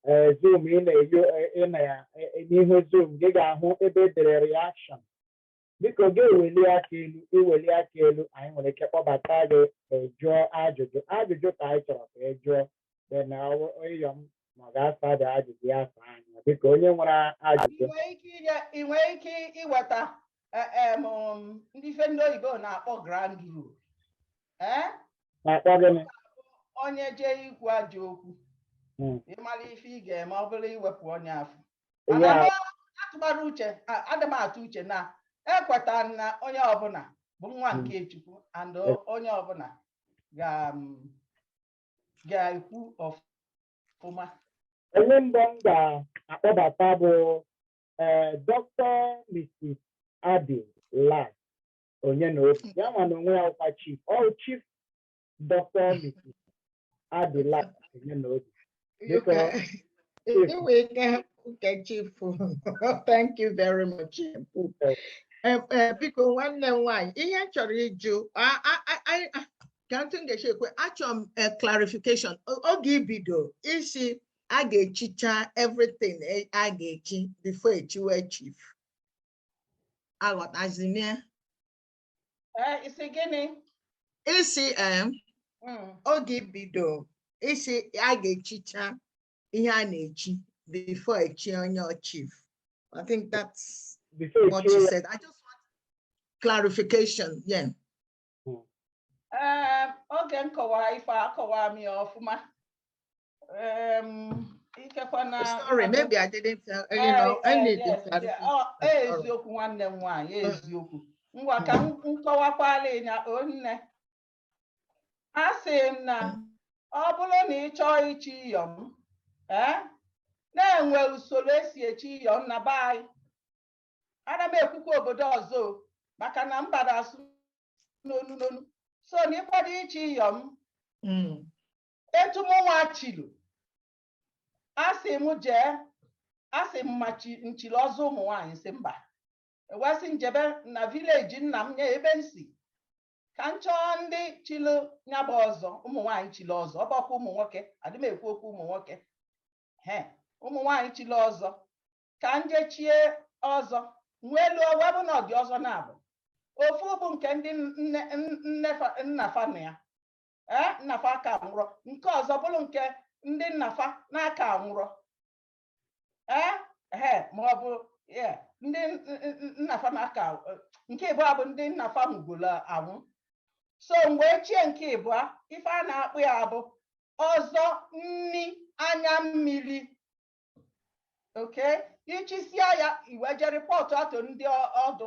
eh, Zoom ị na-eyo eh, ị na ya eh, eh, n'ihu Zoom gị ga-ahụ ebe edere reaction biko gị eweli aka elu iweli aka elu anyị nwere ike kpọbata gị ejụọ ajụjụ ajụjụ ka anyị chọrọ ka ị jụọ dị na Iyom ma ọ ga-asa dị ajụjụ ya asa anyị biko onye nwere ajụjụ ị nwere ike iweta e, e, um, ndị ife ndị oyibo na-akpọ ground rule eh? na-akpọ gịnị onye jee ikwu ajọ okwu hmm. ị mara ife ị ga-eme ọ bụrụ iwepụ onye afụ atụmara uche adị m atụ uche na ekweta na onye ọbụla bụ nwa hmm. nke Chukwu and onye ọbụla ga-ekwu ọfụma onye mbụ m ga-akpọbata bụ eh, Dr. Mrs. Adi Lad Onyenobi ya nwa na onwe ya ọ kwa chief ọ chief Dr. Mrs. adịla Onyenobi biko enwe ike hapụ ka chief thank you very much biko nwanne m nwaanyị ihe m chọrọ ịjụ kee etu m ga-esi ekwu e achọrọ m eh, clarification oge i bido ị sị a ga-echicha everything eh, a ga-echi before echiwe chief aghọtazi m ya Eh, ị sị gịnị? ị sị em Mm, oge i bido ị sị a ga-echicha ihe a na-echi before echi onye chief i think that's what you you said i just want clarification yeah eh, oge m kọwara ife a akọwara m ya ọfụma. Um, sorry, maybe I didn't tell you eh, know eh, anything. Oh, eh, eziokwu nwanne m nwaanyị mm. eziokwu ngwa ka m kọwakwala ị nya o nne asị m na ọ bụrụ na ị chọọ ichi Iyom na e nwe usoro esi echi Iyom na be anyị ana m ekwukwa obodo ọzọ maka na mba na-asụ n'onu n'onu so na ị kwado ichi Iyom mm. etu mụnwa chilu asị m jee asị m ma m chilu ọzọ ụmụ nwaanyị sị mba e wee sị m jebe na village nna m nye ebe m si ka m chọọ ndị chilu nya bụ ọzọ ụmụ nwaanyị chilu ọzọ ọ bụkwa ụmụ nwoke adị m ekwu okwu ụmụ nwoke he ụmụ nwaanyị chilu ọzọ ka m jechie ọzọ m wee luo wee bụ na ọ dị ọzọ naabọ ofu bụ nke ndị nna fa nọ ya ee nna fa aka anwụrọ nke ọzọ bụrụ nke ndị nna fa na-aka anwụrọ ee ee ma ọ bụ ndị nna fa na-aka nke ịbụọ bụ ndị nna fa nwụgolo anwụ so mgbe i chie nke ịbụọ ife a na-akpọ ya bụ ọzọ nni anya mmiri okay i chisia ya i wee je report atụ ndị ọdụ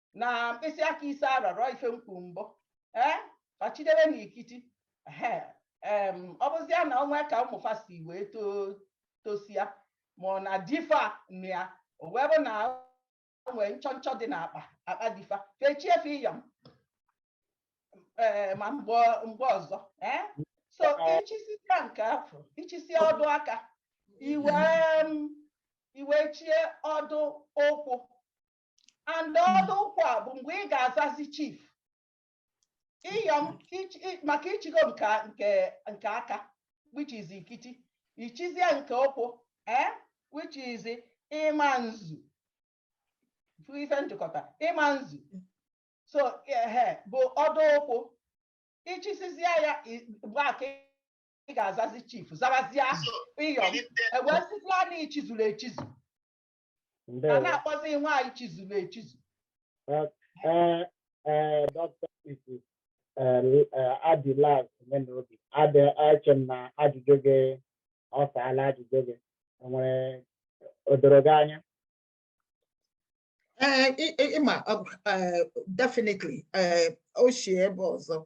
na mkpịsị aka ise arọrọ ife m kwu mbụ ee fa chidebe na ikiti ọ bụzia na o nwe ka ụmụ fa si wee tosia mana di fa nọ ya o wee bụ na e nwee nchọnchọ dị n'akpa akpa di fa fa echie fe iyom ee ma mgbe ọzọ ee so i chisia nke afụ i chisia ọdụ aka i wee i wee chie ọdụ ụkwụ and ọdụ ụkwụ a bụ mgbe ị ga-azazi chief ịyọm maka i chigo nke nke aka which is ikiti i chizie nke ụkwụ eh which is ịma nzu ife njikọta ịma nzu so ehe bụ ọdụ ụkwụ i chisizie ya mgbe a ka ị ga-azazi chief zabazie ịyọm e wee sịzia na i chizuru echizu a na-akpọzi nwaanyị chizuru echizu ee ee dọkịta Mrs. eh, L- eh, Adilas Omenaobi adị eche m na ajụjụ gị ọ saala ajụjụ gị i nwere o doro gị anya Ee, ị- ị- ịma ọ bụ, ee, definitely ee, o si ebe ọzọ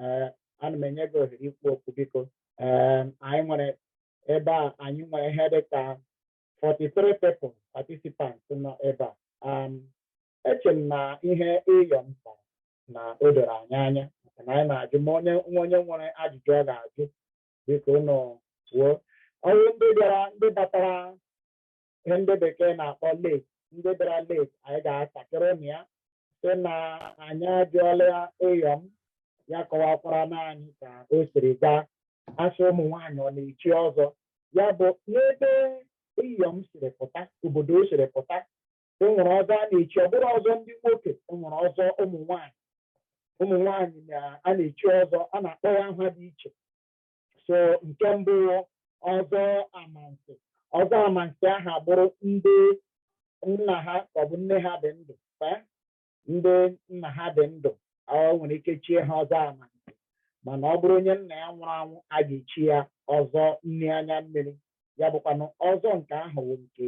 ee ana m enye gị ohere ikwu okwu biko ee anyị nwere ebe a anyị nwere ihe dị ka 43 people participants nọ ebe a um, eche m na ihe ịyọm kpara na o doro anyị anya maka na anyị na-ajụ ma onye nwa onye nwere ajụjụ ọ ga-ajụ biko unu kwuo ọ bụrụ ndị bịara ndị batara ihe ndị bekee na-akpọ late ndị bịara late anyị ga-atakịrị unu ya sị na anyị ajụọla ịyọm ya kọwakwaranụ anyị ka o siri gaa a sị ụmụ nwaanyị ọ na-echi ọzọ ya bụ n'ebe ịyọm siri pụta obodo o siri pụta e nwere ọzọ a na-echi ọ bụrụ ọzọ ndị nwoke e nwere ọzọ ụmụ nwaanyị ụmụ nwaanyị na a na-echi ọzọ a na-akpọ ya aha dị iche so nke mbụ ọzọ amansi ọzọ amansi ahụ ọ bụrụ ndị nna ha ọ bụ nne ha dị ndụ ndị nna ha dị ndụ ọ nwere ike chie ha ọzọ amansi mana ọ bụrụ onye nna ya nwụrụ anwụ a ga-echi ya ọzọ nne anya mmiri ya bụkwanụ ọzọ nke ahụ bụ nke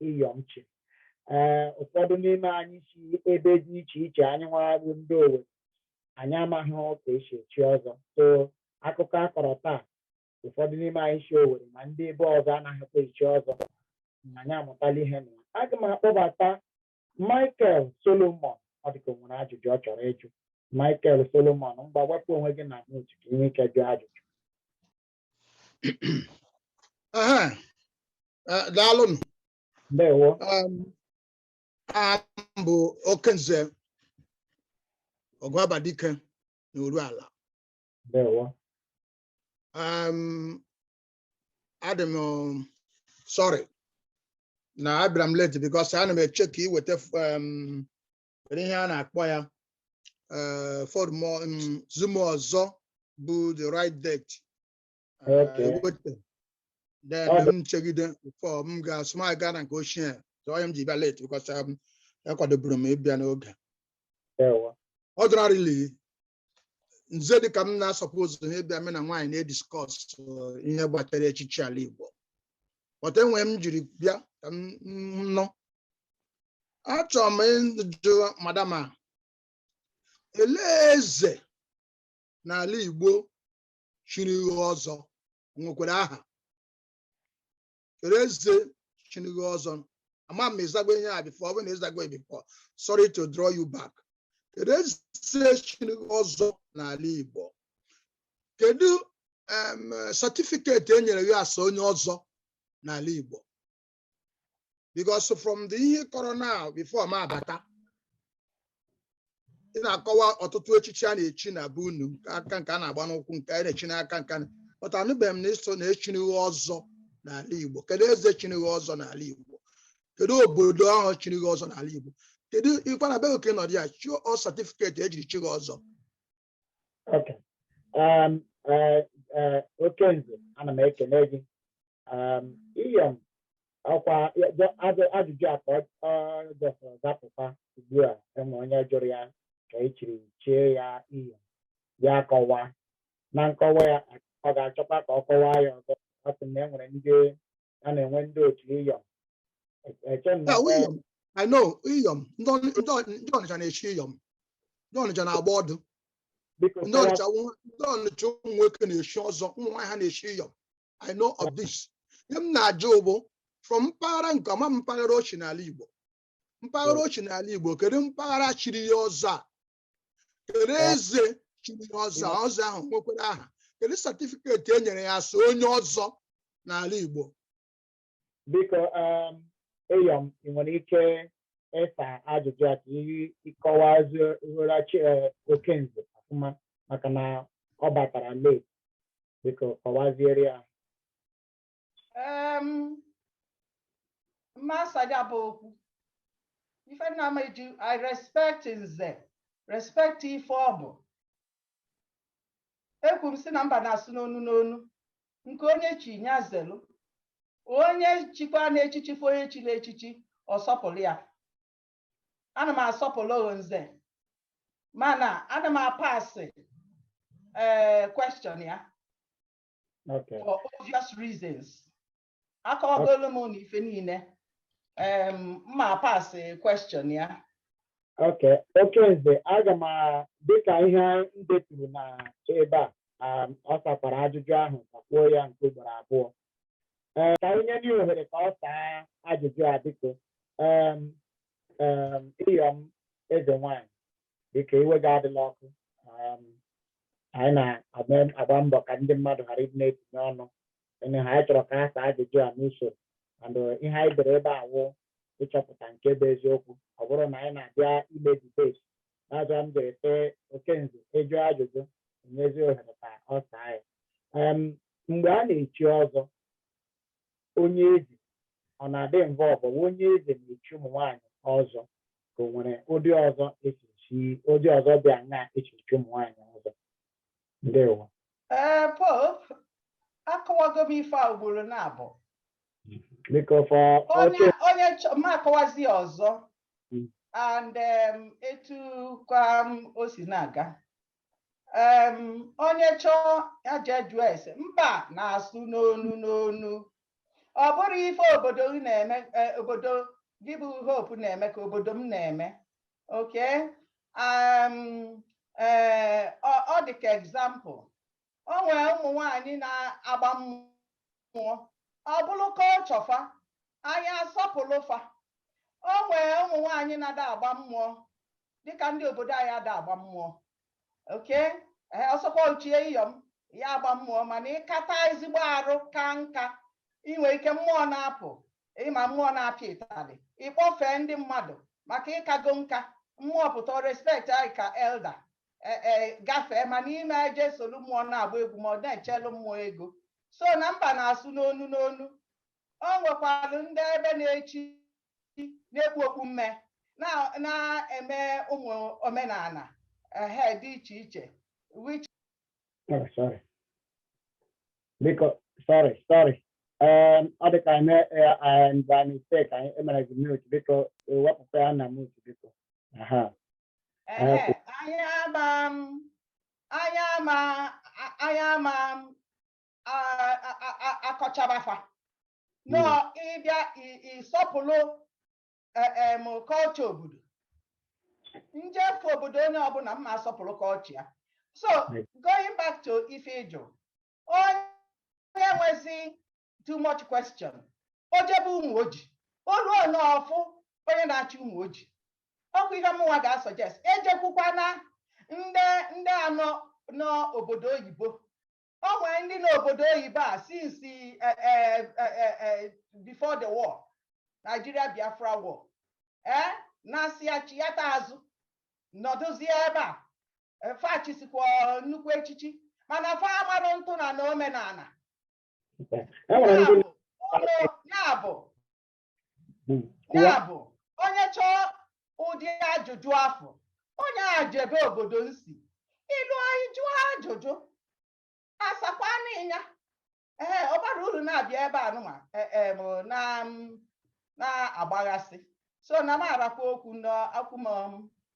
iyom chi ee ụfọdụ n'ime anyị si ebe dị iche iche anyị nwara bụ ndị Owerri anyị amaghị ka esi echi ọzọ so akụkọ a kọrọ taa ụfọdụ n'ime anyị si Owerri ma ndị ebe ọzọ anaghịkwa echi ọzọ na anyị amụtala ihe na ya aga m akpọbata Michael Solomon ọ dịka o nwere ajụjụ ọ chọrọ ịjụ Michael Solomon ngwa wepụ onwe gị na mute ka i nwee ike jụọ ajụjụ Ehe. Eh, daalụnụ ndewo Um, aha m bụ okenze ọgụabadike na Urualla ndewo um, adị m um, sorry na abịara m late because ana m eche ka e weta um, ihe a na-akpọ ya uh, for the um, zoom ọzọ bụ the right date eweta uh, then m chegide before m ga-asị m aga na nke ochie so ọ ihe m ji bịa late because um, akwadoburu m ịbịa n'oge ordinarily nze dịka m na asupposeghị ịbịa mụ na nwaanyị na-ediskọs ihe gbasara echichi ala Igbo but e nwere ihe m jiri bịa ka m nụ achọrọ m ịjụ madam a elee eze n'ala Igbo chiri gị ọzọ nwekwara aha kedu eze chiri gị ọzọ ama m ị zago ihe a before ọ bụrụ na ị zago before sorry to draw you back kedu eze chiri gị ọzọ n'ala igbo kedu em, certificate e nyere gị as onye ọzọ n'ala igbo because from the ihe ị kọrọ now before m abata ị na-akọwa ọtụtụ echichi a na-echi na be unu nke aka nke a na-agba n'ụkwụ nke a na-echi n'aka nke a na- but anụbeghị m na ị sị na e chiri gị ọzọ n'ala Igbo kedu eze chiri gị ọzọ n'ala Igbo kedu obodo ahụ chiri gị ọzọ n'ala Igbo kedu ịkwa na be gị ka ị nọ dị ya chụọ ọ certificate ejiri chi gị ọzọ Okay. Um, uh, uh, okenze ana m ekele gị um, iyom ọkwa ya- jọ- ajụ- ajụjụ a ka ọ- ọ just zapụta ugbu a e nwere onye jụrụ ya ka e chiri chie ya iyom ya kọwa na nkọwa ya ọ ga-achọkwa ka ọ kọwaa ya ọzọ ọ sị na e nwere ndị a na-enwe ndị otu iyom eche m na Yeah, iyom i know iyom ndị Ọnị- ndị Ọnị- ndị ọnịcha na-echi iyom ndị ọnịcha na-agba ọdụ biko ndị kọwa- ọnịcha nwa- ndị ọnịcha ụmụ nwoke na-echi ọzọ ụmụ nwaanyị ha na-echi iyom i know of this ihe m na-ajụ bụ from mpaghara nke ọma mpaghara o chi n'ala igbo mpaghara o chi n'ala igbo kedu mpaghara chiri ya ọzọ a kedu eze chiri ya ọzọ ọzọ ahụ nwekwara aha kedu certificate e nyere ya as onye ọzọ n'ala Igbo biko um, iyom ị nwere ike ịsa ajụjụ a ka ị kọwazi uhorachi eh, okenze ọfụma maka na ọ batara late biko kọwaziere ya em mma asa ya bụ okwu ife nna m eji i respect nze respect ife ọ bụ ekwu m si na mba na-asụ n'onu n'onu nke onye chi nya zelu onye chikwa n'echichi fụ onye chiri echichi ọ sọpụrụ ya ana m asọpụrụ oho nze mana ana m apasị ee question ya Okay. for obvious reasons akọwagolu m na ife niile em mma pass question ya Okay, okenze aga m a- dịka ihe m deturu na ebe a a, ọ sakwara ajụjụ ahụ kakwuo ya nke ugboro abụọ Ee, ka anyị nye ohere ka ọ saa ajụjụ a biko Em, em, iyom eze nwanyị biko iwe gị adịla ọkụ um, anyị na-agba mbọ ka ndị mmadụ ghara ịdị na-etinye ọnụ ene ha anyị chọrọ ka ha saa ajụjụ a n'usoro and uh, ihe anyị dere ebe a wụ ịchọpụta nke bụ eziokwu ọ bụrụ na anyị na-abịa ime debate n'azụ m jere tee okenze ị jụọ ajụjụ e nyezi ohere ka ọ saa ya Em, mgbe a na-echi ọzọ onye eze ọ na-adị involved onye eze na-echi ụmụ nwaanyị ọzọ ka o nwere ụdị ọzọ e si echi ụdị ọzọ dị anya echi echi ụmụ nwaanyị ọzọ ndewo ee eh, hope akọwago m ife a ugboro na abụọ onye onye ma akọwazi ọzọ hmm. and etu kwa o si na-aga em onye chọọ ya jee jụọ ese mba na-asụ n'onu n'onu ọ bụrọ ife obodo gị na-eme eh, obodo gị bụ hope na-eme ka obodo m na-eme okay em eh, ọ ọ dị ka example o nwee ụmụ nwanyị na-agba mmụọ ọ bụrụ culture fa anyị asọpụlụ fa o nwee ụmụ nwanyị na-ada agba mmụọ dịka ndị obodo anyị ada agba mmụọ okay ọ sọkwa ochie iyom ya agba mmụọ mana ịkata ezigbo arụ ka nka inwe ike mmụọ na-apụ ịma mmụọ na-apịa ịtalị ịkpọfee ndị mmadụ maka ịkago nka mmụọ pụta respect anyị ka elder e, e, gafee mana ị ma eje solu mmụọ na-agba egwu ma ọ na-echelu mmụọ ego so na mba na-asụ n'onu n'onu o nwekwalụ ndị ebe na-echi na-ekpu okpu mme na- na-eme ụmụ omenana ehe dị iche iche which Oh, sorry. Biko, sorry, sorry. Um, ọ dị ka eme by mistake anyị emere gị mute biko wepụkwa ya na mute biko. Aha. Ehe, anyị ama m anyị ama a- anyị ama m a- a- a- a- akọchaba fa no ị bịa i- ịsọpụrụ e- em, culture obodo njefe obodo onye ọbụla mma asọpụlụ culture ya so Right. going back to ife ị jụ onye nwezi too much question o jebe Ụmụoji o luo nee ọ fụ onye na-achị Ụmụoji ọkwa ihe mụnwa ga-asuggest ejekwukwana ndị ndị a nọ n'obodo oyibo o nwere ndị n'obodo oyibo a since eh, eh, eh, before the war Nigeria Biafra war ee na-asị ya chiyata azụ nọdụzie ebe a fa chisikwa nnukwu echichi mana fa amarụ ntụ na na omenana ya bụ onye chọọ ụdị ajụjụ afụ onye a jebe obodo nsi ilu anyị jụọ ajụjụ asakwa n'ịnya ee ọ bara uru na-abịa ebe anụma e, e, na-agbaghasị so na m arakwa okwu n'akwụ m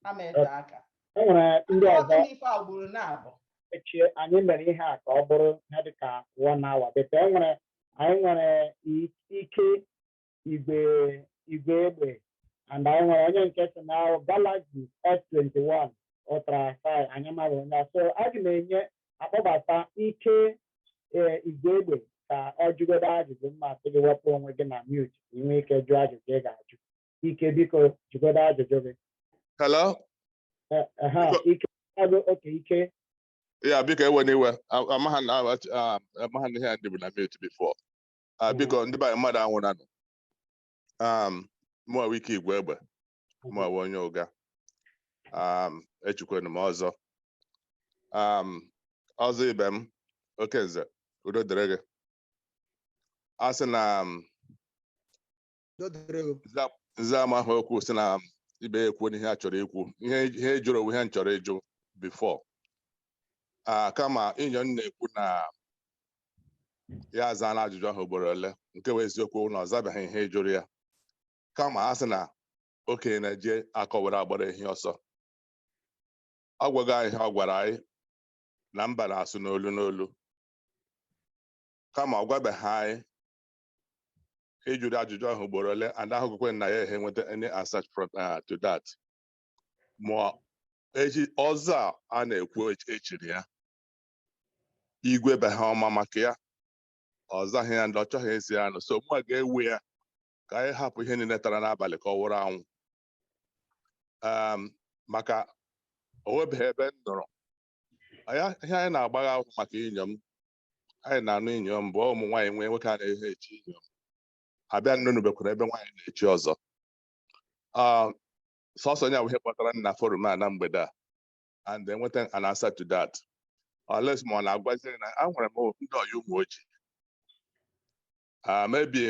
ama ete aka e nwere ndị ọzọ ife a gburu na-abụ echi anyị mere ihe a ka ọ bụrụ ihe dị ka one hour but e nwere anyị nwere Ike Igwe Igwegbe and anyị nwere onye nke si na Galaxy S21 Ultra 5 anyị mara onye so aga m enye akpọbata Ike ee Igwegbe ka ọ jụgodo ajụjụ mma asị gị wepụ onwe gị na mute ka ị nwee ike jụọ ajụjụ ị ga-ajụ Ike biko jụgodo ajụjụ gị hello Eh, eh, ha, Biko- ike ọrụ okay Ike yeah biko ewena iwe A- amaghị na awa- ah, amaghị na ihe a dịbu na mute before Ah, Mm. biko ndị be anyị mmadụ anwụranụ um mụ wụ Ike Igwegbe ọ mụwa onye Ụga um, echikwanu m ọzọ um, ọzọ ibe m oke nze udo dịrị gị a sị na um, nze amaha okwu sị na um, ibe ya ekwuona ihe ya chọrọ ikwu ihe ị jụrụ ọ wụ ihe m chọrọ ịjụ before Ah, kama Iyom na-ekwu na ya azaala ajụjụ ahụ ugboro ole nke bụ eziokwu na ọ zabeghị ihe ị jụrụ ya kama a sị na okenye na-eji akọ were agbara ehi ọsọ ọ gwaghị anyị ihe ọ gwara anyị na mba na-asụ n'olu n'olu kama ọ gwabeghị anyị ị jụrụ ajụjụ ahụ ugboro ole and ahụghịkwa na ya ehe nweta any answer from uh, to that ma ichi ọzọ a a na-ekwu ech- e chiri ya igwe be ha ọ ma maka ya ọ zaghị ya ndị ọ chọghị ezi ya nụ so mụ ga-ewe ya ka anyị hapụ ihe niile tara n'abalị ka ọ wụrụ anwụ maka o nwebeghị ebe m nụrụ ihe anyị na-agbagha ahụ maka Iyom anyị na-anụ Iyom bụ ụmụ nwaanyị nwe nwoke anaghị echi Iyom but anụnụbekwaghị ebe nwaanyị na-echi ọzọ sọsọ nya bụ ihe kpọtara m na forum a na mgbede a and enweta an answer to that unless ma ọ na-agwazi na enwere m ndị ọyị Ụmụoji a maybe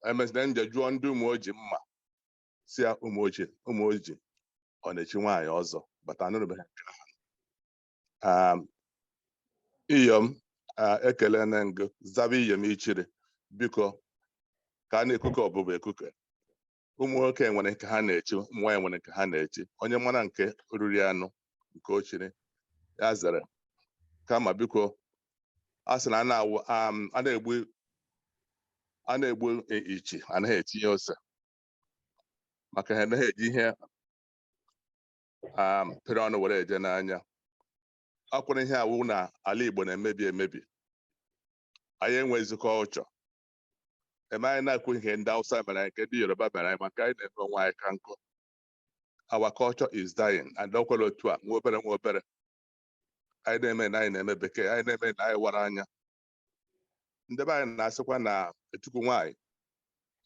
e mesịa m je jụọ ndị Ụmụoji ma a sị ya Ụmụoji Ụmụoji ọ na-echi nwaanyị ọzọ but anụnụbeghị nke ahụ Um, Iyom ah, ekelena m gị zaba Iyom i chiri biko ka a na-ekuke ọbụbụ ekuke ụmụ nwoke nwere nke ha na-echi ụmụ nwaanyị nwere nke ha na-echi onye mara nke o riri anụ nke o chiri ya zere kama biko a sị na a na-awụ am, a na-egbu a na-egbu i- ichi anaghị etinye ose maka ha anaghị eji ihe am, pịrị ọnụ were eje n'anya ọ kwa ihe a wụ na ala Igbo na-emebi emebi anyị enwezi culture e mee anyị na-ekwu ihe ndị Hausa mere anyị nke ndị Yoruba mere anyị ma nke anyị na-eme onwe anyị ka njọ our culture is dying and ọ kwa otu a nwa obere nwa obere anyị na-eme na anyị na-eme bekee anyị na-eme na anyị wara anya ndị be anyị na-asịkwa na ntukwu nwaanyị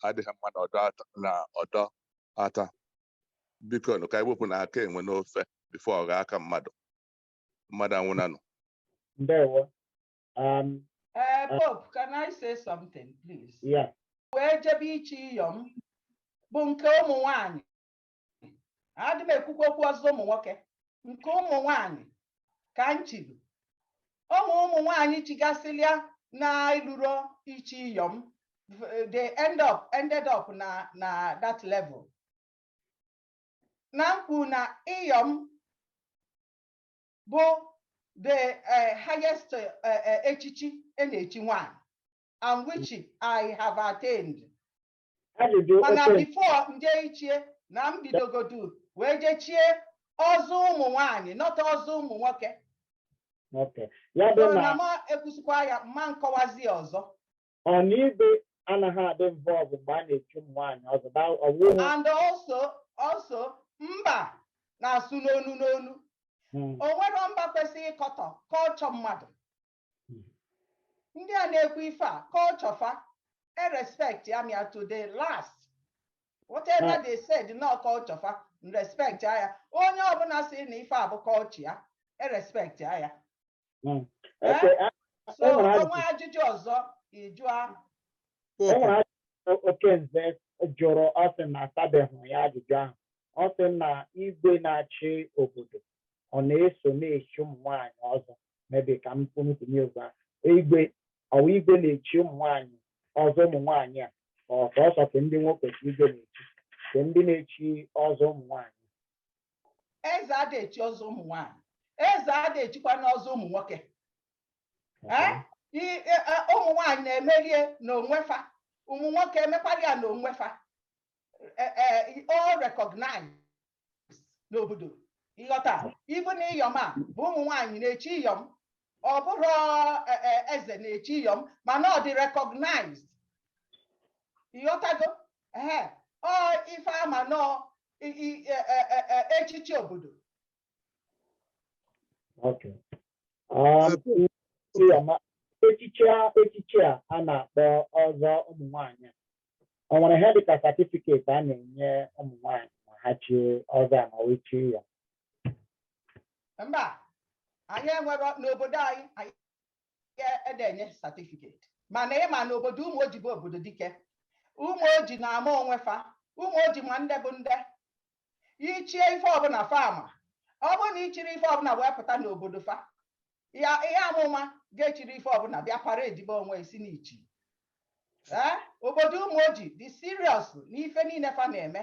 adịghị mma na ọdọ ata na ọdọ ata biko nụ ka anyị wepụnụ aka enwe n'ofe before ọ ghọọ aka mmadụ mmadụ anwụnanụ ndewo Um, uh, Pope, can I say something, please? Yeah. Wee jebe ichi iyom bụ nke ụmụ nwanyị. Adị m ekwukwa okwu ọzọ ụmụ nwoke. Nke ụmụ nwanyị ka m chiri. Ụmụ ụmụ nwanyị chigasịlịa na-eluro ichi iyom. They end up ended up na na that level. Na m kwu na iyom bụ the eh, highest eh, eh, echichi a na-echi nwaanyị and which I have attained Ajụjụ mana okay before m je ichie na m bidogodu wee jee chie ọzọ ụmụ nwaanyị not ọzọ ụmụ nwoke okay. Ya bụ so na na m ekwusịkwa ya ma m kọwazi ọzọ ọ na igwe anaghị adị involved mgbe a na-echi ụmụ nwaanyị ọzọ na ọwụhụ and also also mba na-asụ n'onu n'onu Mm, o nwero mba kwesịrị ịkọtọ culture mmadụ Mm. ndị a na-ekwu ife a culture fa e-respect ya mia to the last whatever Ah. they said na ọ culture fa respect ya onye ọbụla sị na ife a bụ culture ya e-respect ya Hmm. Eh? Okay, a- so e nwere ajụjụ. o nwe ajụjụ ọzọ ịjụ ahụ e Pope. nwere ajụjụ Okenze jụrụ ọ sị na asabeghị ya ajụjụ ahụ ọ sị na igwe na-achị obodo ọ na-eso na-echi ụmụ nwaanyị ọzọ maybe ka m kwutinye ugbu a igwe ọ wụ igwe na-echi ụmụ nwaanyị ọzọ ụmụ nwaanyị a ọ sọsọ ke ndị nwoke ka igwe na-echi kee ndị na-echi ọzọ ụmụ nwaanyị eze adị echi ọzọ ụmụ nwaanyị eze adị echikwanụ ọzọ ụmụ nwoke Eh? I- e- e, ụmụ nwaanyị na-emere ya n'onwefa ụmụ nwoke emekwara ya n'onwefa Eh, eh, all recognized n'obodo ịghọta even iyom a bụ ụmụ nwaanyị na-echi iyom ọ bụro eh, eh, eze na-echi iyom mana ọ dị recognized ịghọtago ee ọ ife a ma na ọ i- i- e- e- e- e- echichi obodo Okay. Um, Ebe- ndị ọma, echichi a echichi a a na-akpọ ọzọ ụmụ nwanyị a, o nwere ihe dịka certificate a na-enye ụmụ nwanyị ma ha chi ọzọ a ma wee chi ya mba anyị enwero n'obodo anyị anyị adị enye certificate mana ị ma na obodo Ụmụoji bụ obodo dike Ụmụoji na-ama onwe fa Ụmụoji ma ndị bụ ndị ichie ife ọbụla fa ama ọ bụrụ na i chiri ife ọbụla wee pụta n'obodo fa ya ihe amụma ga-echiri ife ọbụla bịa paradebe onwe ị sị na i chi obodo Ụmụoji dị serious n'ife niile fa na-eme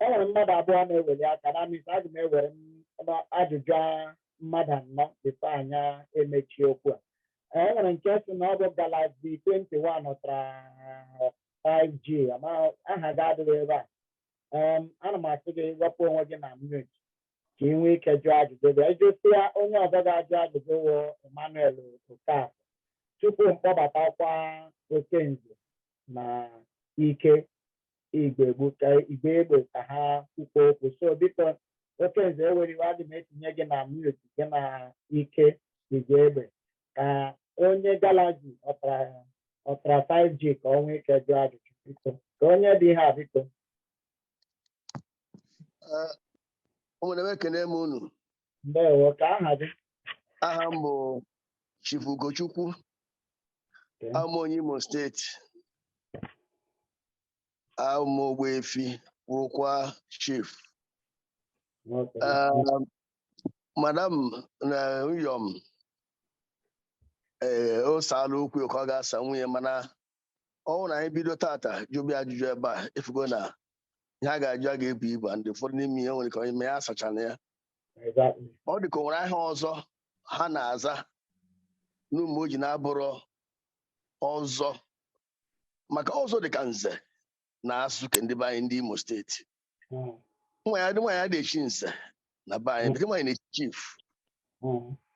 e nwere mmadụ abụọ na-eweli aka na mis aga m ewere m- m- ajụjụ a- mmadụ anọ bifo anyị emechie okwu a e nwere nke sị na ọ bụ galaxy 21 ultra 5g amaghị aha gị adịghị ebe a Em, ana m asị gị wepụ onwe gị na mute ka ị nwee ike jụọ ajụjụ gị ị jụsịa onye ọzọ ga-ajụ ajụjụ wụ emmanuel okafọ tupu m kpọbatakwa okenze na ike igwegbe ike igwegbe ka ha kwukwa okwu so biko okenze ewela iwe adị m etinye gị na mute gị na ike igwegbe ka onye galaxy ultra 5G ka ọ nwee ike jụọ ajụjụ biko ka onye dị ihe a biko ụmụnne m ekene m unu ndewo kee aha gị aha m bụ Chief Ugochukwu Okay. awụ m onye Imo steeti awụ m Ogbuefi wụrụkwa chief Okay. Um, madam na Iyom ee ọ saala okwu ka ọ ga-asa nwunye mana ọ wụrụ na anyị bido taata jụba ajụjụ ebe a ị fugo na ihe a ga-ajụ a ga-ebu ibu and ụfọdụ n'ime ihe nwere ka onye mee ya asachana ya ọ dị ka o nwere aha ọzọ ha na-aza n'ụmụoji na-abụrọ ọzọ maka ọzọ dị ka nze na asụ ke ndị be anyị ndị Imo steeti nwaanyị nwaanyị ada echi nze na be anyị nwaanyị na-echi chief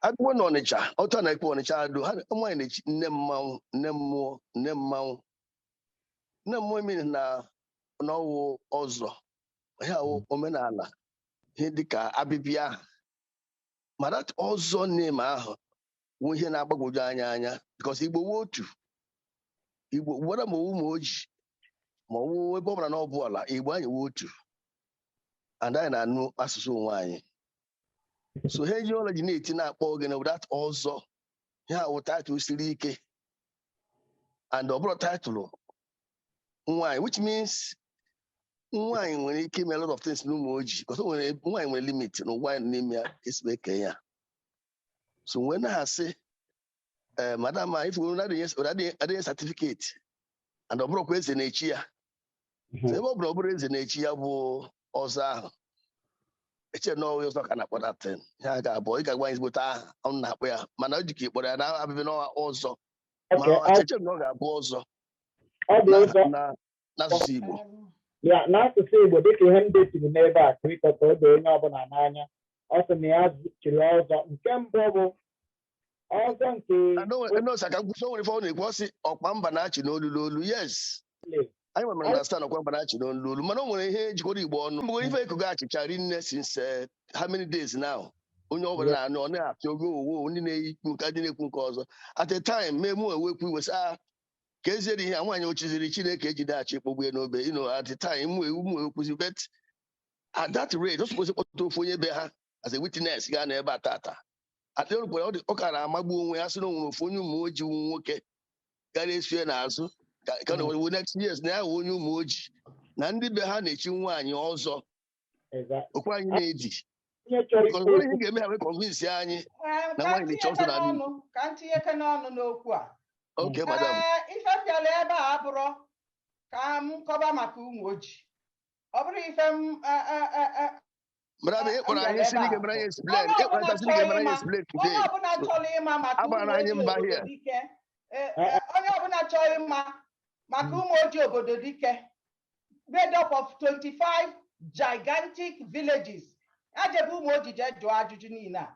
agụgbo na ọnịcha otu a na-akpọ ọnịcha ado ha nwaanyị na-echi nne mmanwụ nne mmụọ nne mmanwụ nne mmụọ emiri na na ọ wụ ọzọ ihe a wụ omenala ihe dịka abịbịa ahụ ma that ọzọ name ahụ wụ ihe na-agbagwoju anyị anya because igbo wụ otu igbo gwara ma ọ wụ ụmụoji ma ọ wụ ebe ọ bụla na ọ bụ ala igbo anyị wụ otu and anyị na-anụ asụsụ onwe anyị so ha eji ọla ji na-eti na-akpọ oge na that ọzọ ihe a wụ title siri ike and ọ bụrụ title nwaanyị which means nwaanyị nwere ike ime a lot of things n'ụmụoji because o nwere nwaanyị nwere limit na ụwa anyị nọ n'ime ya e si kee ya so wee na-asị ee eh, madam a ifu adịghị certificate and ọ bụrụkwa eze na-echi ya mhm. ebe ọ bụrụ ọ bụrụ eze na-echi ya bụ ọzọ ahụ eche na ọ wụghị ọzọ ka a na-akpọ that thing ihe a ga-abụ ị ga-agwa anyị ezigbote aha ụnụ na-akpọ ya mana o jikọ ị kpọrọ ya na abịbị na ọ wụ ọzọ ma eche na ọ ga-abụ ọzọ n'asụsụ Igbo ya n'asụsụ Igbo dịka ihe m deturu n'ebe a kirikọ ka o doo onye ọbụla n'anya ọ sị na ya chiri ọzọ nke mbụ bụ ọzọ nke nọọsụ aka nkwụsị o nwere ife ọ na-ekwu ọ sị ọkwa mba na-achị n'olu n'olu yes anyị mere understand ọkwa mba na-achị n'olu n'olu mana o nwere ihe jikọrọ Igbo ọnụ mgbe ife ekwugo achịcha rinne since eh, how many days now onye ọ bụla na-anụ ọ na-apịa ogo owo ndị na-ekwu nke ndị na-ekwu nke ọzọ at a time mee mụ ewekwu iwe sị ah ka eziere ihe a nwaanyị ochiziri Chineke ejide achị kpọgbue n'obe you know at the time mụ mụ ekwuzi but at that rate o suppose kpọta ofu onye be ha as a witness ga-anọ ebe a tata atịrụkwara ọ ka na-amagbu onwe ya sị na o nwere ofu onye Ụmụoji wụ nwoke gara eso ya n'azụ ka ka na owu next years na ya wụ onye Ụmụoji na ndị be ha na-echi nwaanyị ọzọ okwu anyị na-eji ihe ga-eme ya kọnvinsi anyị na nwaanyị na-echi ọzọ na adị ka m tinyekene ọnụ n'okwu a okay madam ife m bịara ebe a abụrọ ka m kọba maka Ụmụoji ọ bụrọ ife m Brother, ị kpọrọ anyị sị n'ị ga-emere anyị explain. Ị kpọrọ anyị sị n'ị ga-emere anyị explain today. Onye ọbụla chọrọ ịma maka Ụmụoji obodo dike. Onye ọbụla chọrọ ịma maka Ụmụoji obodo dike. made up of 25 gigantic villages ya jebe Ụmụoji jee jụọ ajụjụ niile a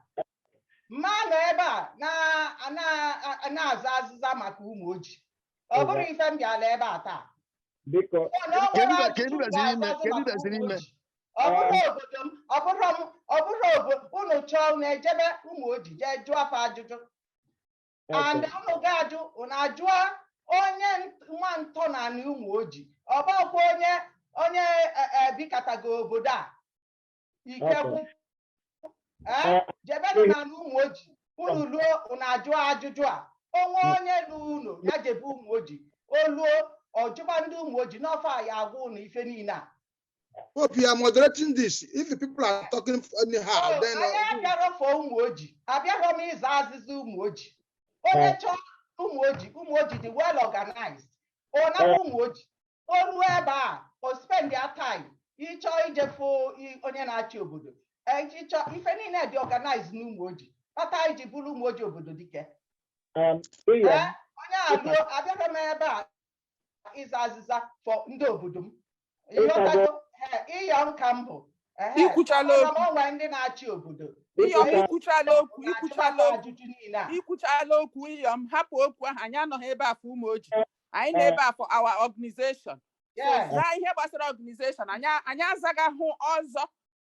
m ma anọ ebe a na- na- na-aza azịza maka Ụmụoji ọ bụrọ ife m bịala ebe a taa biko Ọ na o Kedu nwere ka- kedu ajụjụ m gaziri ime? ga-azazi Kedu maka gaziri ụmụ ime? oji. ọ bụrụ obodo m ọ bụrụ m ọ bụrụ obo- unu chọọ unu ejebe Ụmụoji jee jụọ fa ajụjụ and ụnụ ga-ajụ ụnụ ajụọ onye nwa ntọ n'anị Ụmụoji ọ bụrọkwa onye onye e, e, bikatago obodo a ikekwu Eh, jebenụ n'anị Ụmụoji ụnụ luo ụnụ ajụọ ajụjụ a o nwee onye lu ụnọ ya jebe Ụmụoji o luo ọ jụba ndị Ụmụoji n'ọ fa ya-agwa ụnụ ife niile a Hope you are moderating this. If the people are talking anyhow, then anyị uh, abịarọ for Ụmụoji abịarọ m ịza azịza Ụmụoji onye chọọ Ụmụoji Ụmụoji dị well organized ọ nakwa Ụmụoji o ruo ebe a o spend ya time ị chọọ ije fụ i- onye na-achị obodo eh, ị chọọ ife niile dị organized n'Ụmụoji kpata anyị ji bụrụ Ụmụoji obodo dike Um, Iyom, Eh, onye a ruo abịarọ m ebe a ịza azịza for ndị obodo m ị ghọtago Iyom ka m bụ i kwuchala okwu o nwee ndị na-achị obodo Iyom i kwuchala okwu i kwuchala okwu i kwuchala okwu Iyom hapụ okwu ahụ anyị anọghị ebe a for Ụmụoji anyị nọ ebe a for our organization zaa ihe gbasara organization anyị azaghị ihe ọzọ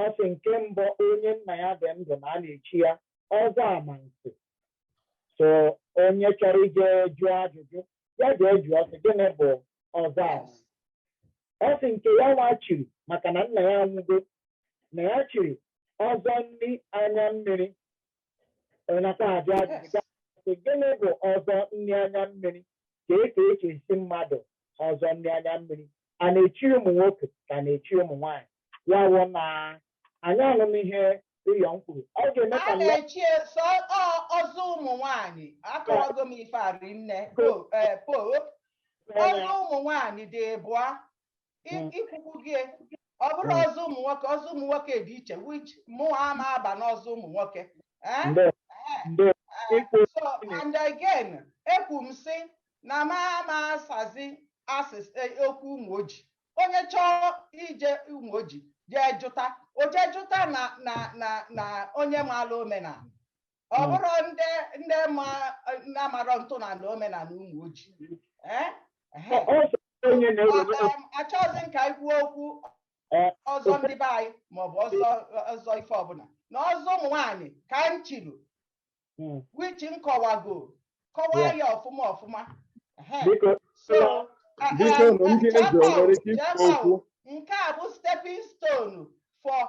Ọ sị nke mbụ onye nna ya dị ndụ na a na-echi ya ọzọ amansi so onye chọrọ ije jụọ ajụjụ ya jee jụọ sị gịnị bụ ọzọ amansi ọ sị nke ya nwa chiri maka na nna ya anwụgo na ya chiri ọzọ nri anya mmiri Ọ nakwa ajụ ajụjụ Yes. sị, gịnị bụ ọzọ nri anya mmiri ka e ka echisi mmadụ ọzọ nri anya mmiri a na-echi ụmụ nwoke ka a na-echi ụmụ nwaanyị ya wụ na anyị anụm ihe Iyom kwuru ọ ga-eme ka a nla- na-echi sọ ọ- ọzọ ụmụ nwanyị akọwago m ife a rinne po eh, po ọzọ ụmụ nwanyị dị ịbụa Hmm. ikwukwu gị ọ bụrụ Hmm. ọzọ ụmụ nwoke ọzọ ụmụ nwoke dị iche which mụnwa ama aba n'ọzọ ụmụ nwoke Eh? Nde, nde, ikwu so and again ekwu m sị na m ama asazi as- eh, okwu Ụmụoji onye chọọ ije Ụmụoji jee jụta o jee jụta na na na na onye maara omenala ọ Mm. bụrụ ndị ndị ma ndị amarọ ntọala omenala Ụmụoji Eh? Ehe. Ọ- ọ sọ onye na-ewere Ọ- em, achọghịzị m ka anyị kwuo okwu Eh, ọzọ ndị be anyị maọbụ ọzọ ọzọ ife ọbụla na ọzọ ụmụ nwaanyị ka m chiri Mm. which m kọwago kọwaa Yeah. ya ọfụma ọfụma Ehe. biko So, a- biko a- na ndị a- eze o nwere ike ikwu Jemma, okwu nke a bụ stepping stone for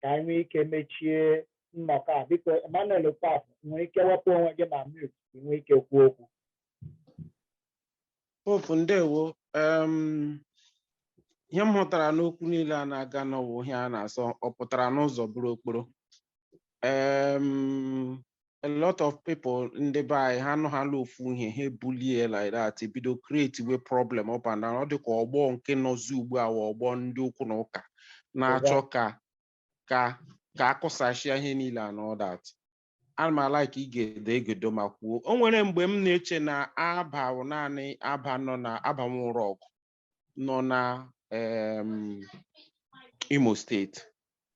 ka anyị nwee ike mechie nnọkọ a biko Emmanuel Okafọ nwere ike wepụ onwe gị na mute ka ị nwee ike kwuo okwu Popu ndewo em, ihe m hụtara n'okwu niile a na-aga na ọ wụ ihe a na-asị ọ pụtara n'ụzọ bụrụ okporo Em, a lot of people ndị be anyị ha nụhala ofu ihe ha ebulie like that ebido create we problem up and down ọ dị ka ọgbọ nke nọzi ugbu a wụ ọgbọ ndị okwu na ụka na-achọ ka ka ka a kụsachịa ihe niile and all that ana m a-like igedo egedo ma kwuo o nwere mgbe m na-eche na Abba wụ naanị Abba nọ na Abba nwụrụ ọgụ nọ na em, Imo steeti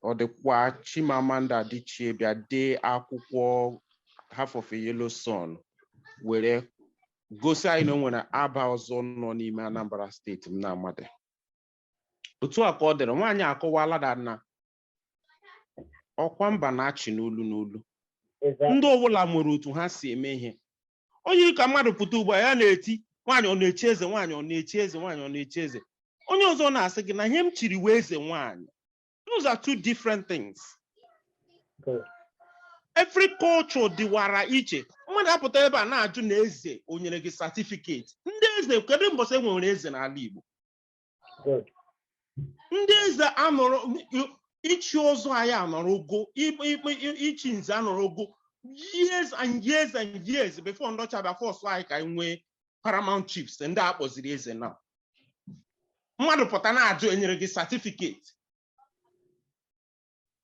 ọ dịkwa Chimamanda Adichie bịa dee akwụkwọ Half of a Yellow Sun were gosi anyị na o nwere Abba ọzọ nọ n'ime Anambra steeti m na-amadị otu a ka ọ dịrị nwaanyị akọwala da na ọkwa mba na-achị n'olu n'olu ndị ọbụla nwere otu ha si eme ihe onye yiri ka mmadụ pụta ugbu a ya na-eti nwaanyị ọ na-echi eze nwaanyị ọ na-echi eze nwaanyị ọ na-echi eze onye ọzọ na-asị gị na ihe m chiri wụ eze nwaanyị those are two different things Okay. every culture dịwara iche mmadụ apụta ebe a na-ajụ na eze o nyere gị certificate ndị eze kedu mbọsị e nwere eze n'ala Igbo ndị eze anọrọ ichi ọzọ anyị anọrọgo ichi nze anọrọgo years and years and years before ndị ọcha bịa force anyị ka anyị nwee paramount chiefs ndị a kpọziri eze na mmadụ pụta na-ajụ e nyere gị certificate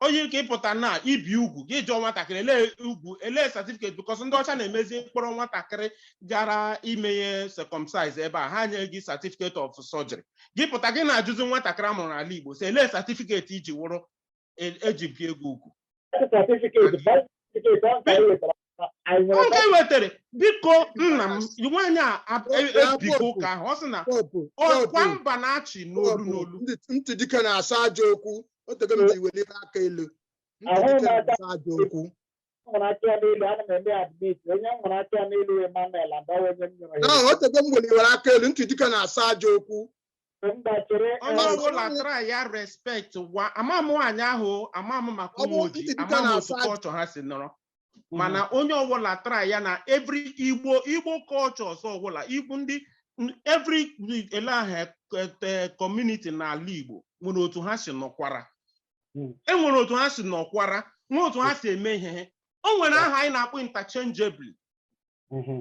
o yi ka ị pụta na ibi ugwu gị jụọ nwatakịrị elee ugwu elee certificate because ndị ọcha na-emezi m kpọrọ nwatakịrị gara ime ihe circumcise ebe a ha nye gị certificate of surgery gị pụta gị na-ajụzi nwatakịrị a mụrụ n'ala Igbo sị elee certificate e ji wụrụ e- e ji bie gị ugwu Certificate, birth certificate, ọ ka e wetara oge wetara biko nna m nwaanyị a ebigo ụka ahụ ọ sị na ọkwa mba na-achị n'olu n'olu ntị dike na-asa aja okwu o tego m ji weli aka elu ntị dike na-asa aja okwu nwere aka ya n'elu ana m eme admit onye nwere aka ya n'elu Emmanuel Adawa onye m nyere ya o tego m weliwere aka elu ntị dike na-asa aja okwu mba chere onye eh, ọbụla try ya respect wa ama m nwaanyị ahụ o, ama m maka Ọ bụ Ụmụoji ntị dịka ama m na-asa otu ajị. culture ha si nọrọ mana onye ọbụla try ya na every igbo igbo cultures ọbụla igbo ndị n- every ele ahụ community n'ala igbo nwere otu ha si nọkwara Mm. e nwere otu ha si nọkwara nwee otu ha si eme ihe ha. o nwere aha anyị na-akpọ interchangeably Mhm.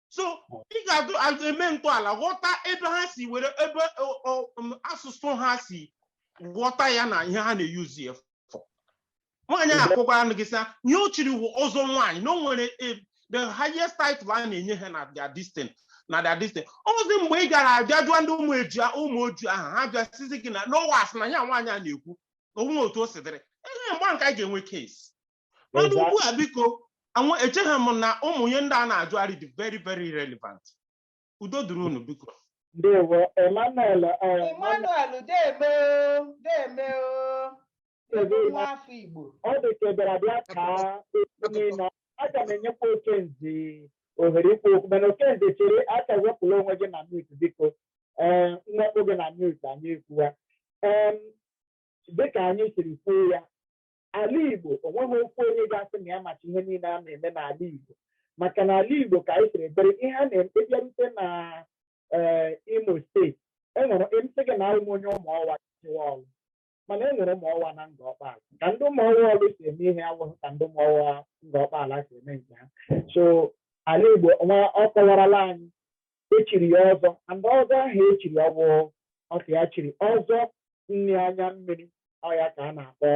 so ị ga-ajụ eme ntọala ghọta ebe ha si were ebe ọ- ọ- um, asụsụ ha si ghọta ya na ihe ha na-eyuzi ya for nwaanyị a akọkwara gị sị na ihe o chiri wụ ọzọ nwaanyị na o nwere eh, the highest title a na-enye ha na their distin na their distin ọ wụzi mgbe ị gara abịa jụọ ndị ụmụ eju Ụmụoji ahụ ha bịa sizi gị na ọ wụ asị na ihe nwaanyị a na-ekwu na ọ wụghị otu o si dịrị ehe mgbe ahụ ka anyị ga-enwe case mana Exactly. ugbu a biko anwụ echeghị m na ụmụ ihe ndị a na-ajụgharị dị very very relevant udo dịrị unu biko ndewo Emmanuel eh, Emmanuel deeme o deeme o Ebe ị nwa afọ Igbo ọ dị ka ị bịara bịa kaa okwu niile aga m enyekwa Okenze ohere ikwu okwu mana Okenze chere aka wepụla onwe gị na mute biko ee m wepụ gị na mute anyị ekwuwa Em, dịka anyị siri kwuo ya ala Igbo o nweghị okwu onye ga-asị na ya machi ihe niile a na-eme n'ala Igbo maka na ala Igbo ka anyị siri bere ihe a na-eme bịarute na eh, Imo steeti e nwere m sị gị na awụ m onye Ụmụọwa i chewa Ọlụ mana e nwere Ụmụọwa na Ngọ Ọkpala ka ndị Ụmụọwa Ọlụ si eme ihe awụghị ka ndị Ụmụọwa Ngọ Ọkpala si eme nke ha so ala Igbo nwa ọ kọwarala anyị e chiri ya ọzọ and ọzọ ahụ e chiri ọ wụ ọka ya chiri ọzọ nri anya mmiri ọ ya ka a na-akpọ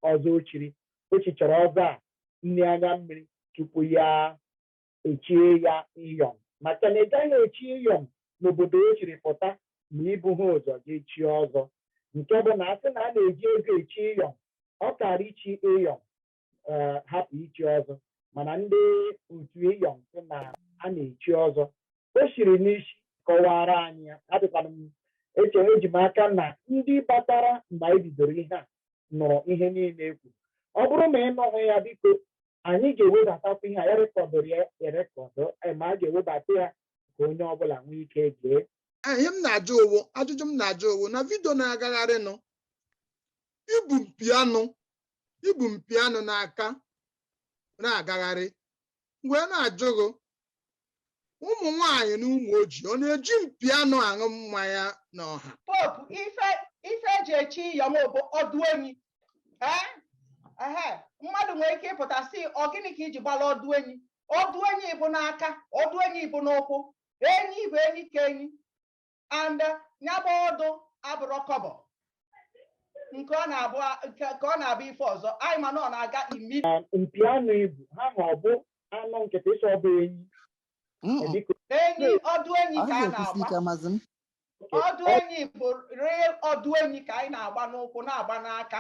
ọzọ o chiri o chichara ọzọ a nri anya mmiri tupu ya echie ya iyom maka na ị gaghị echi iyom n'obodo o chiri pụta ma i buha ụzọ ga chie ọzọ nke bụ na a sị na a na-eji ego echi iyom ọ kara ichi iyom eh, hapụ ichi ọzọ mana ndị otu ịyọm sị na a na-echi ọzọ o siri n'isi kọwaara anyị ya adịkwana m eche eji m aka na ndị batara mgbe anyị bidoro ihe a nụrụ ihe niile ekwu ọ bụrụ ma ị nụghị ya biko anyị ga-ewebatakwa ihe a ya rekọdụrụ ya erekọdụ eh, ma a ga-ewebata ya ka onye ọbụla nwee ike gee ihe m na-ajụ owo ajụjụ m na-ajụ owo na vidio na-agagharịnụ ibu mpi anụ ibu mpi anụ n'aka na-agagharị m wee na-ajụ gị ụmụ nwanyị n'Ụmụoji ọ na-eji mpi anụ aṅụ mmanya n'ọha popu ife ife e ji echi iyom bụ ọdụ enyi ee ehe mmadụ nwere ike ịpụta sị ọ gịnị ka i ji gbara ọdụ enyi ọdụ enyi bụ n'aka ọdụ enyi bụ n'ụkwụ enyi bụ enyi ka enyi and ya bụ ọdụ abụrọ kọbọ nke ọ na-abụ nke ka ọ na-abụ ife ọzọ anyị ma na ọ na-aga imi na mpi anụ ibu ha ma ọ bụ anụ nkịtị ịsọ ọ bụ enyi Mm-mm. dịka enyi ọdụ enyi Ọ ka a na-ekwusi na-agba ike amazi m. ọdụ enyi bụ real ọdụ enyi ka anyị na-agba n'ụkwụ na-agba n'aka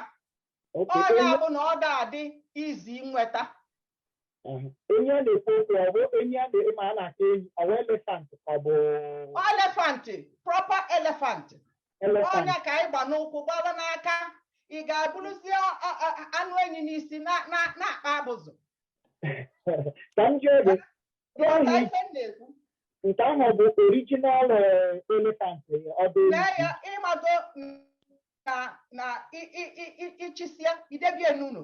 oke ọ nya onye bụ na ọ da-adị easy nweta enyi a na-ekwu okwu ọ bụ enyi animal a na-akpọ enyi ọ bụ elephant ka ọ bụ elephant proper elephant elephant ọ nya ka anyị gba n'ụkwụ gbawa n'aka ị ga-eburuzi ọ- ọ- ọ- anụ enyi n'isi na- na- na-akpa abụzụ ka m jụọ gị Nke ahụ Ghọta ihe m na-ekwu nke ahụ ọ bụ original elephant ọ bụ lee ya ịmago na na ị- ị- ị- ị- i chisịa i debe n'ụlọ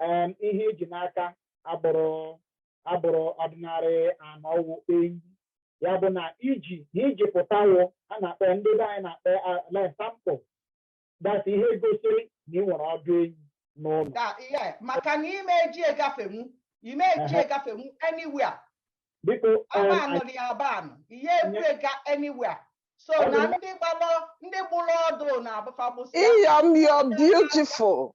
um, ihe i ji n'aka abụrọ abụrọ original ọdụ enyi ya bụ na iji na iji pụtawo a na-akpọ ya ndị be anyị na-akpọ ya like sample that's ihe gosiri na ị nwere ọdụ enyi n'ụlọ Da, ihe maka na ime eji egafenwu ime eji Ehe. egafenwu anywhere biko um, aba anụ dị aba anụ ihe e bu aga anywhere so Ọ dị na mma. ndị gbalụ ndị gbụrụ ọdụ na-abụ fa abụ sị Iyom, you're beautiful.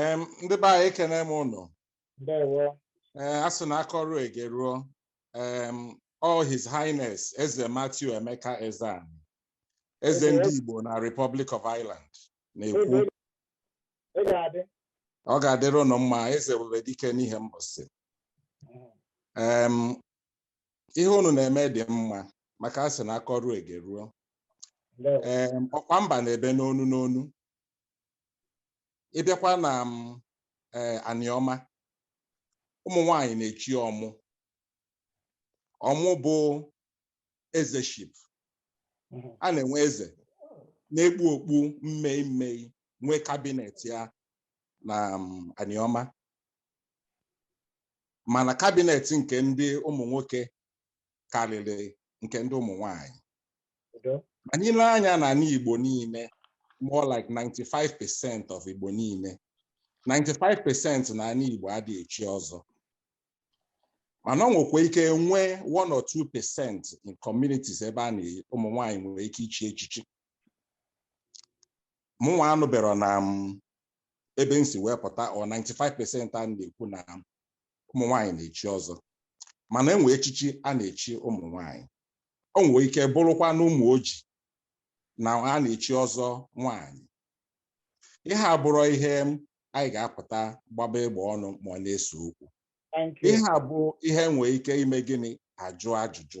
Em, ndị be anyị ekene m ụnụ ndewo ee a sị na a kọruo e geruo em, ọ his highness eze matthew emeka ezeani eze ndị igbo na republic of ireland na-ekwu Eze, ị ga-adị ọ ga-adịrị ụnụ mma eze were dike n'Ihembọsị em ihe unu na-eme dị mma maka a sị na a kọruo e geruo ndewo em ọkwa mba na-ebe n'onu n'onu ị bịakwa na em ee anịọma ụmụ nwanyị na-echi ọmụ ọmụ bụ ezeship Mhm. a na-enwe eze na-ekpu okpu mmei mmei nwee kabinet ya na m, anịọma mana kabinet nke ndị ụmụ nwoke karịrị nke ndị ụmụ nwanyị anyị lee anya na anị Igbo niile more like 95 percent of Igbo niile 95 percent na anị Igbo adịghị echi ọzọ mana ọ nwekwa ike nwee one or two percent in communities ebe a na ụmụ nwanyị nwere ike ichi echichi mụnwa anụbero na em ebe m si wee pụta ọ 95 percent a na-ekwu na ụmụ nwaanyị na-echi ọzọ mana e nwe echichi a na-echi ụmụ nwaanyị o nwere ike bụrụkwa na Ụmụoji na a na-echi ọzọ nwaanyị ihe a abụrọ ihe anyị ga-apụta gbaba egbe ọnụ ma ọ bụ na-ese okwu ihe a bụ ihe e nwee ike ime gịnị a jụọ ajụjụ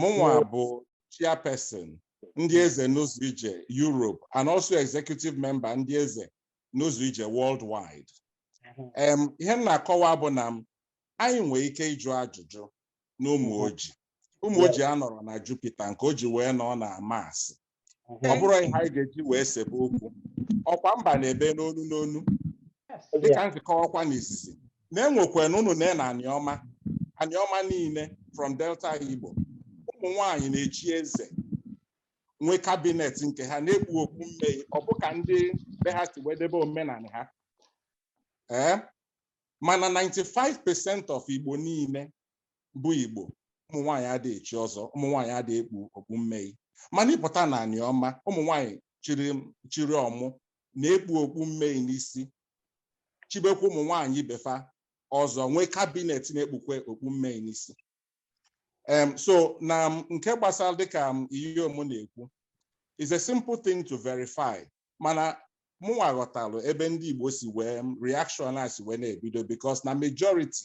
mụnwa bụ chairperson ndị eze n'ụzọ ije Europe and also executive member ndị eze n'ụzọ ije worldwide em ihe m na-akọwa bụ na em anyị nwee ike ịjụ ajụjụ n'Ụmụoji Ụmụoji anọrọ na Jupiter nke o ji wee nọ na Mars ọ bụrọ ihe anyị ga-eji wee sebe okwu ọkwa mba na-ebe n'onu n'onu dịka m si kọọkwa n'izizi na e nwekwa na ọmụ na na aniọma aniọma niile from delta igbo ụmụ nwanyị na-echi eze nwee kabinet nke ha na-ekpu okpu mmei ọ bụ ka ndị be ha si wee debe omenala ha ee mana 95% of igbo niile bụ igbo ụmụ nwaanyị adịghị echi ọzọ ụmụ nwaanyị adịghị ekpu okpu mmei mana ịpụta na aniọma ụmụ nwaanyị chiri ọmụ na-ekpu okpu mmei n'isi chibekwa ụmụ nwaanyị ibe fa ọzọ nwee kabinet na-ekpukwe okpu mmei n'isi em so na em, nke gbasara dịka em Iyom na-ekwu is a simple thing to verify mana mụnwa ghọtalụ ebe ndị igbo si wee em, reaction a si wee na-ebido because na majority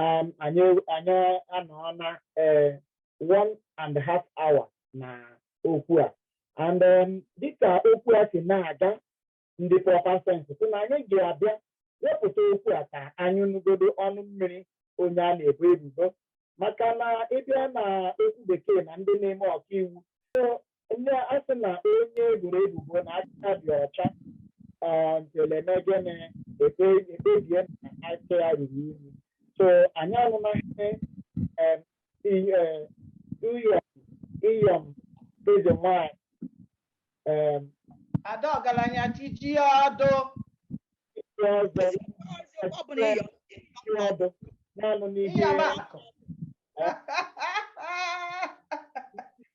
um, anyị anyị anọọna eh, one and a half hour na okwu a and um, dịka okwu a si na-aga ndị proper sense sị na anyị ga-abịa wepụta okwu a ka anyị nụgodo ọnụ mmiri onye a na-ebo ebubo maka na ịbịa na okwu bekee na ndị na-eme ọkaiwu so onye a sị na onye eboro ebubo na aka dị ọcha ah, until eme gịnị ekpe- ekpebie na aka ya ruru unyi so anyị anụna ihe em, i- eh, iyom iyom eze nwanyị em, ada ọgalanya tiji ọdụ ihe ọzọ ọ bụ na ịyọ ihe ọdụ naanụ n'ihe ịyọba akụ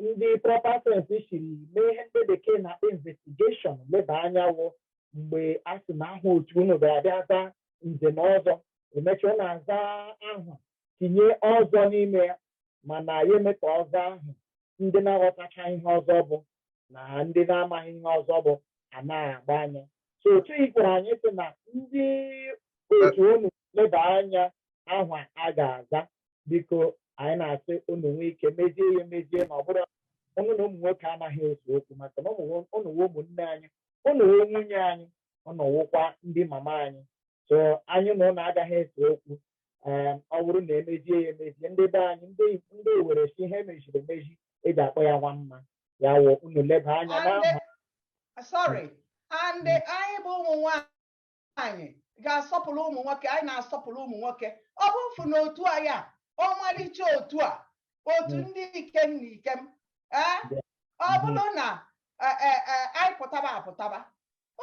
ndị proper sense siri mee ihe ndị bekee na investigation leba anya ọ wụ mgbe a sị na aha otu unu ga-abịa za nze na ọzọ emechaa na-aza ahụ tinye ọzọ n'ime ya mana ya eme ka ọzọ ahụ ndị na-aghọtacha ihe ọzọ bụ na ndị na-amaghị ihe ọzọ bụ anaghị agba anya so otu ikwere anyị sị na ndị otu unu leba anya aha a ga-aza biko anyị na-asị unu nwee ike mezie ya emezie na ọ bụrụ unu na ụmụ nwoke anaghị ese okwu maka na unu wụ ụmụnne anyị unu wụ nwunye anyị unu wụkwa ndị mama anyị so anyị na unu agaghị ese okwu ehm, ọ bụrụ na emezie ya emezie ndị be anyị ndị ndị owere sị ihe emeziri emezi eji akpọ ya nwa mma ya wụ unu leba anya n'aha sorry and anyị bụ ụmụ nwaanyị nwaanyị ga-asọpụrụ ụmụ nwoke anyị na-asọpụrụ ụmụ nwoke ọ bụ mfụ na otu a ya ọmalịcha otu a otu hmm. ndị ikem na ikem ọ hmm. bụrụ na e, e, e, anyị pụtaba apụtaba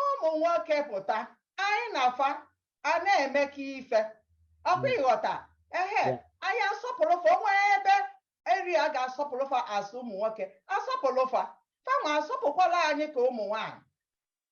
ụmụ nwoke pụta anyị na fa a na-emekọ ife ọkwa hmm. ịghọta ehe anyị asọpụrụ fa o nwere ebe eri a ga-asọpụrụ fa as ụmụ nwoke asọpụrụ fa fanwa asọpụkwalụ anyị ka ụmụ nwaanyị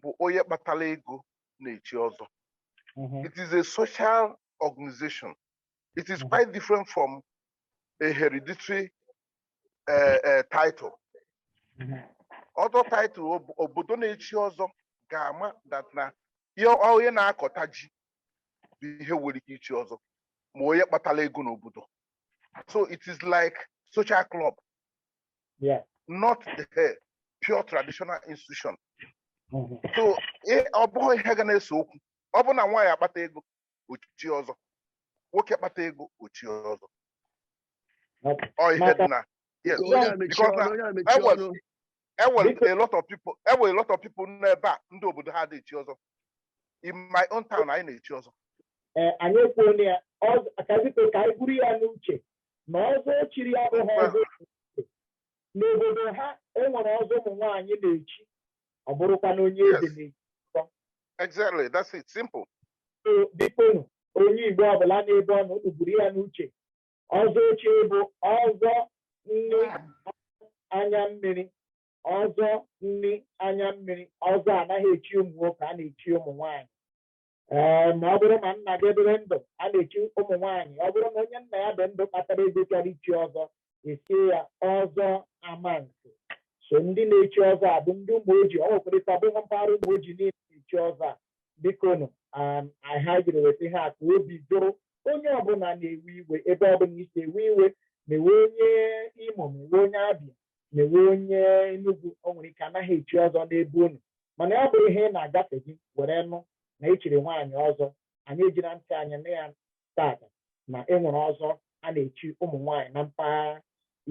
bụ onye kpatara ego na-echi ọzọ mhm. it is a social organization it is mhm. quite different from a hereditary uh, uh, title mhm. ọzọ title obodo na-echi ọzọ ga-ama that na ihe onye na-akọta ji bụ ihe nwere ike ichi ọzọ ma onye kpatara ego n'obodo so it is like social club yeah. not the pure traditional institution mm-hmm. so eh, ọ bụghị ihe ga na-ese okwu ọ bụrụ na nwaanyị akpata ego o chie ọzọ nwoke akpata ego o chie ọzọ ọ ihe dị na yes because na enwere e a lot of people enwere a lot of people n'ebe a ndị obodo ha adị echi ọzọ in my own town anyị na-echi ọzọ eh, anyị ekwuola ya ka biko ka anyị buru ya n'uche na ọzọ o chiri abụghị ọzọ n'obodo ha enwere ọzọ ụmụ nwaanyị na-echi ọ bụrụkwa na onye eze na-echi exactly that's it simple biko onye igbo ọbụla n'ebe ọ nọ unu buru ya n'uche ọzọ o chiri bụ ọzọ nni anya mmiri ọzọ nni anya mmiri ọzọ anaghị echi ụmụ nwoke a na-echi ụmụ nwaanyị ee ma ọ bụrụ ma nna gị dịrị ndụ a na-echi ụmụ nwaanyị ọ bụrụ na onye nna ya dị ndụ kpatara ego chọrọ ichi ọzọ echie ya ọzọ amansi so ndị na-echi ọzọ a bụ ndị Ụmụoji ọ nwekwara ike ọ bụghị mpaghara Ụmụoji niile na-echi ọzọ a bikonu anyị jiri weta ihe a ka obi jụrụ onye ọbụla na-ewe iwe ebe ọbụla i si ewe iwe ma ị wụ onye Imo ma ị wụ onye Abia ma ị wụ onye Enugwu o nwere ike anaghị echi ọzọ n'ebe unu mana ya bụrụ ihe ị na-agafe gị were nụ na echiri nwaanyị ọzọ anyị ejila ntị anyị nụ ya taata na enwere ọzọ a na-echi ụmụ nwaanyị na mpaghara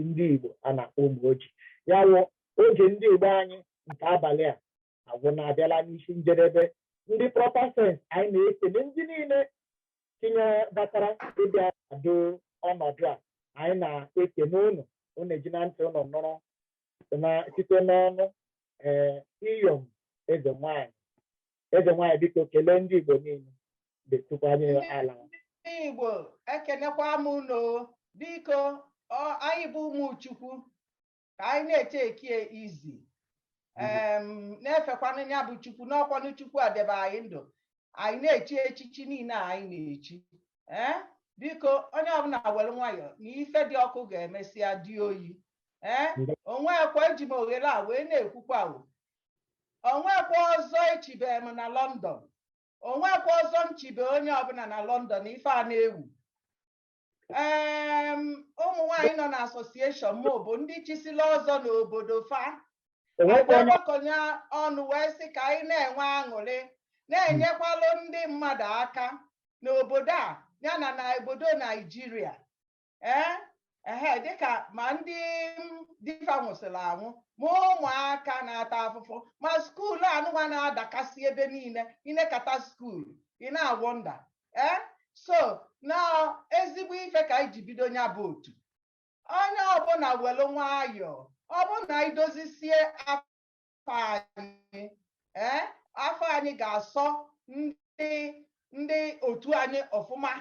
ndị Igbo a na-akpọ Ụmụoji ya wụ oge ndị Igbo anyị nke abalị a agwụla abịala n'isi njedebe ndị proper sense anyị na-ekele ndị niile tinyere batara ịbịa kwado ọnọdụ a anyị na-ekele unu unu ejila ntị unu nụrụ na site n'ọnụ ee iyom eze nwanyị eze nwanyị biko kelee ndị igbo niile detukwanye ala ndị igbo ekenekwa m unu biko ọ- anyị bụ ụmụ chukwu ka anyị na-echi echichi mhm. na-efekwanụ ya bụ chukwu na ọ kwanụ chukwu edebe anyị ndụ anyị na-echi echichi niine anyị na-echi ee eh? biko onye ọbụna welu nwayọọ na ife dị ọkụ ga-emesịa dị oyi ee eh? onwekwa eji m oghele a wee na-ekwukwa onwekwa ọzọ echibe m na London onwekwa ọzọ m chibe onye ọbụna na London ife a na-ekwu ụmụ nwanyị nọ na association m bụ ndị chisila ọzọ n'obodo fa agbakọnye ọnụ wee sị ka anyị na-enwe aṅụlị na-enyekwalụ ndị mmadụ aka n'obodo a ya na na obodo naijiria ee ehe dịka ma ndị di fa nwụsịrị anwụ ma ụmụaka na-ata afụfụ ma skuulu anụwa na-adakasị ebe niile i nekata skuulu ị na-awonder ee so na ezigbo ife ka anyị ji bido nya bụ otu onye ọbụla welu nwayọọ ọ bụ na anyị dozisie afa anyị ee afa anyị ga-asọ ndị ndị otu anyị ọfụma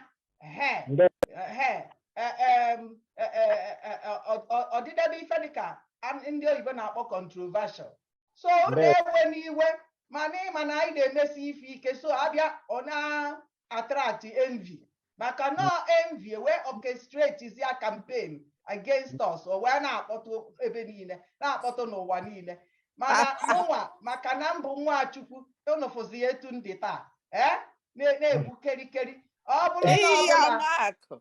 ehe Nde- ehe e- em, e- e- e- e- ọ- ọ- ọ dịdebe ife dịka an- ndị oyibo na-akpọ controversial so na-ewe n'iwe mana ịma na anyị na-emesi ife ike so abịa ọ na-attract envy maka na envy e wee orchestratezia campaign against us o wee na-akpọtụ ebe niile na-akpọtụ n'ụwa niile mana mụnwa maka na m bụ nwa Chukwu unu fụzia etu m dị taa ee na- na-egbu kerikeri ọ bụrụ na ọ Eyi ya bụla n'akụ.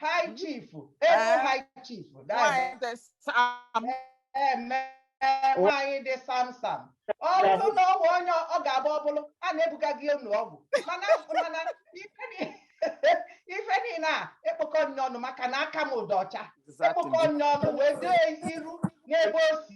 High chief, eh. high chief. nwaanyị dị samsam ọ bụrụ na ọ bụ onye ọ ga-agba ọ bụlụ a na-ebuga gị ụnọ ọgwụ mana ife niile a e kpokọ nya ọnụ maka na aka mụ dị ọcha e kpokọ nya ọnụ wee dee iru n'ebe o si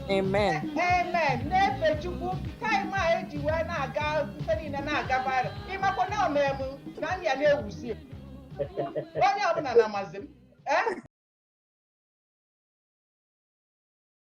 Amen. Amen. Na-efe Chukwu taịm a eji wee na-aga ife niile na-aga viral ị makwa na o me mụ na ndị a na-ewuzi m. onye ọbụla na-amazi m Eh?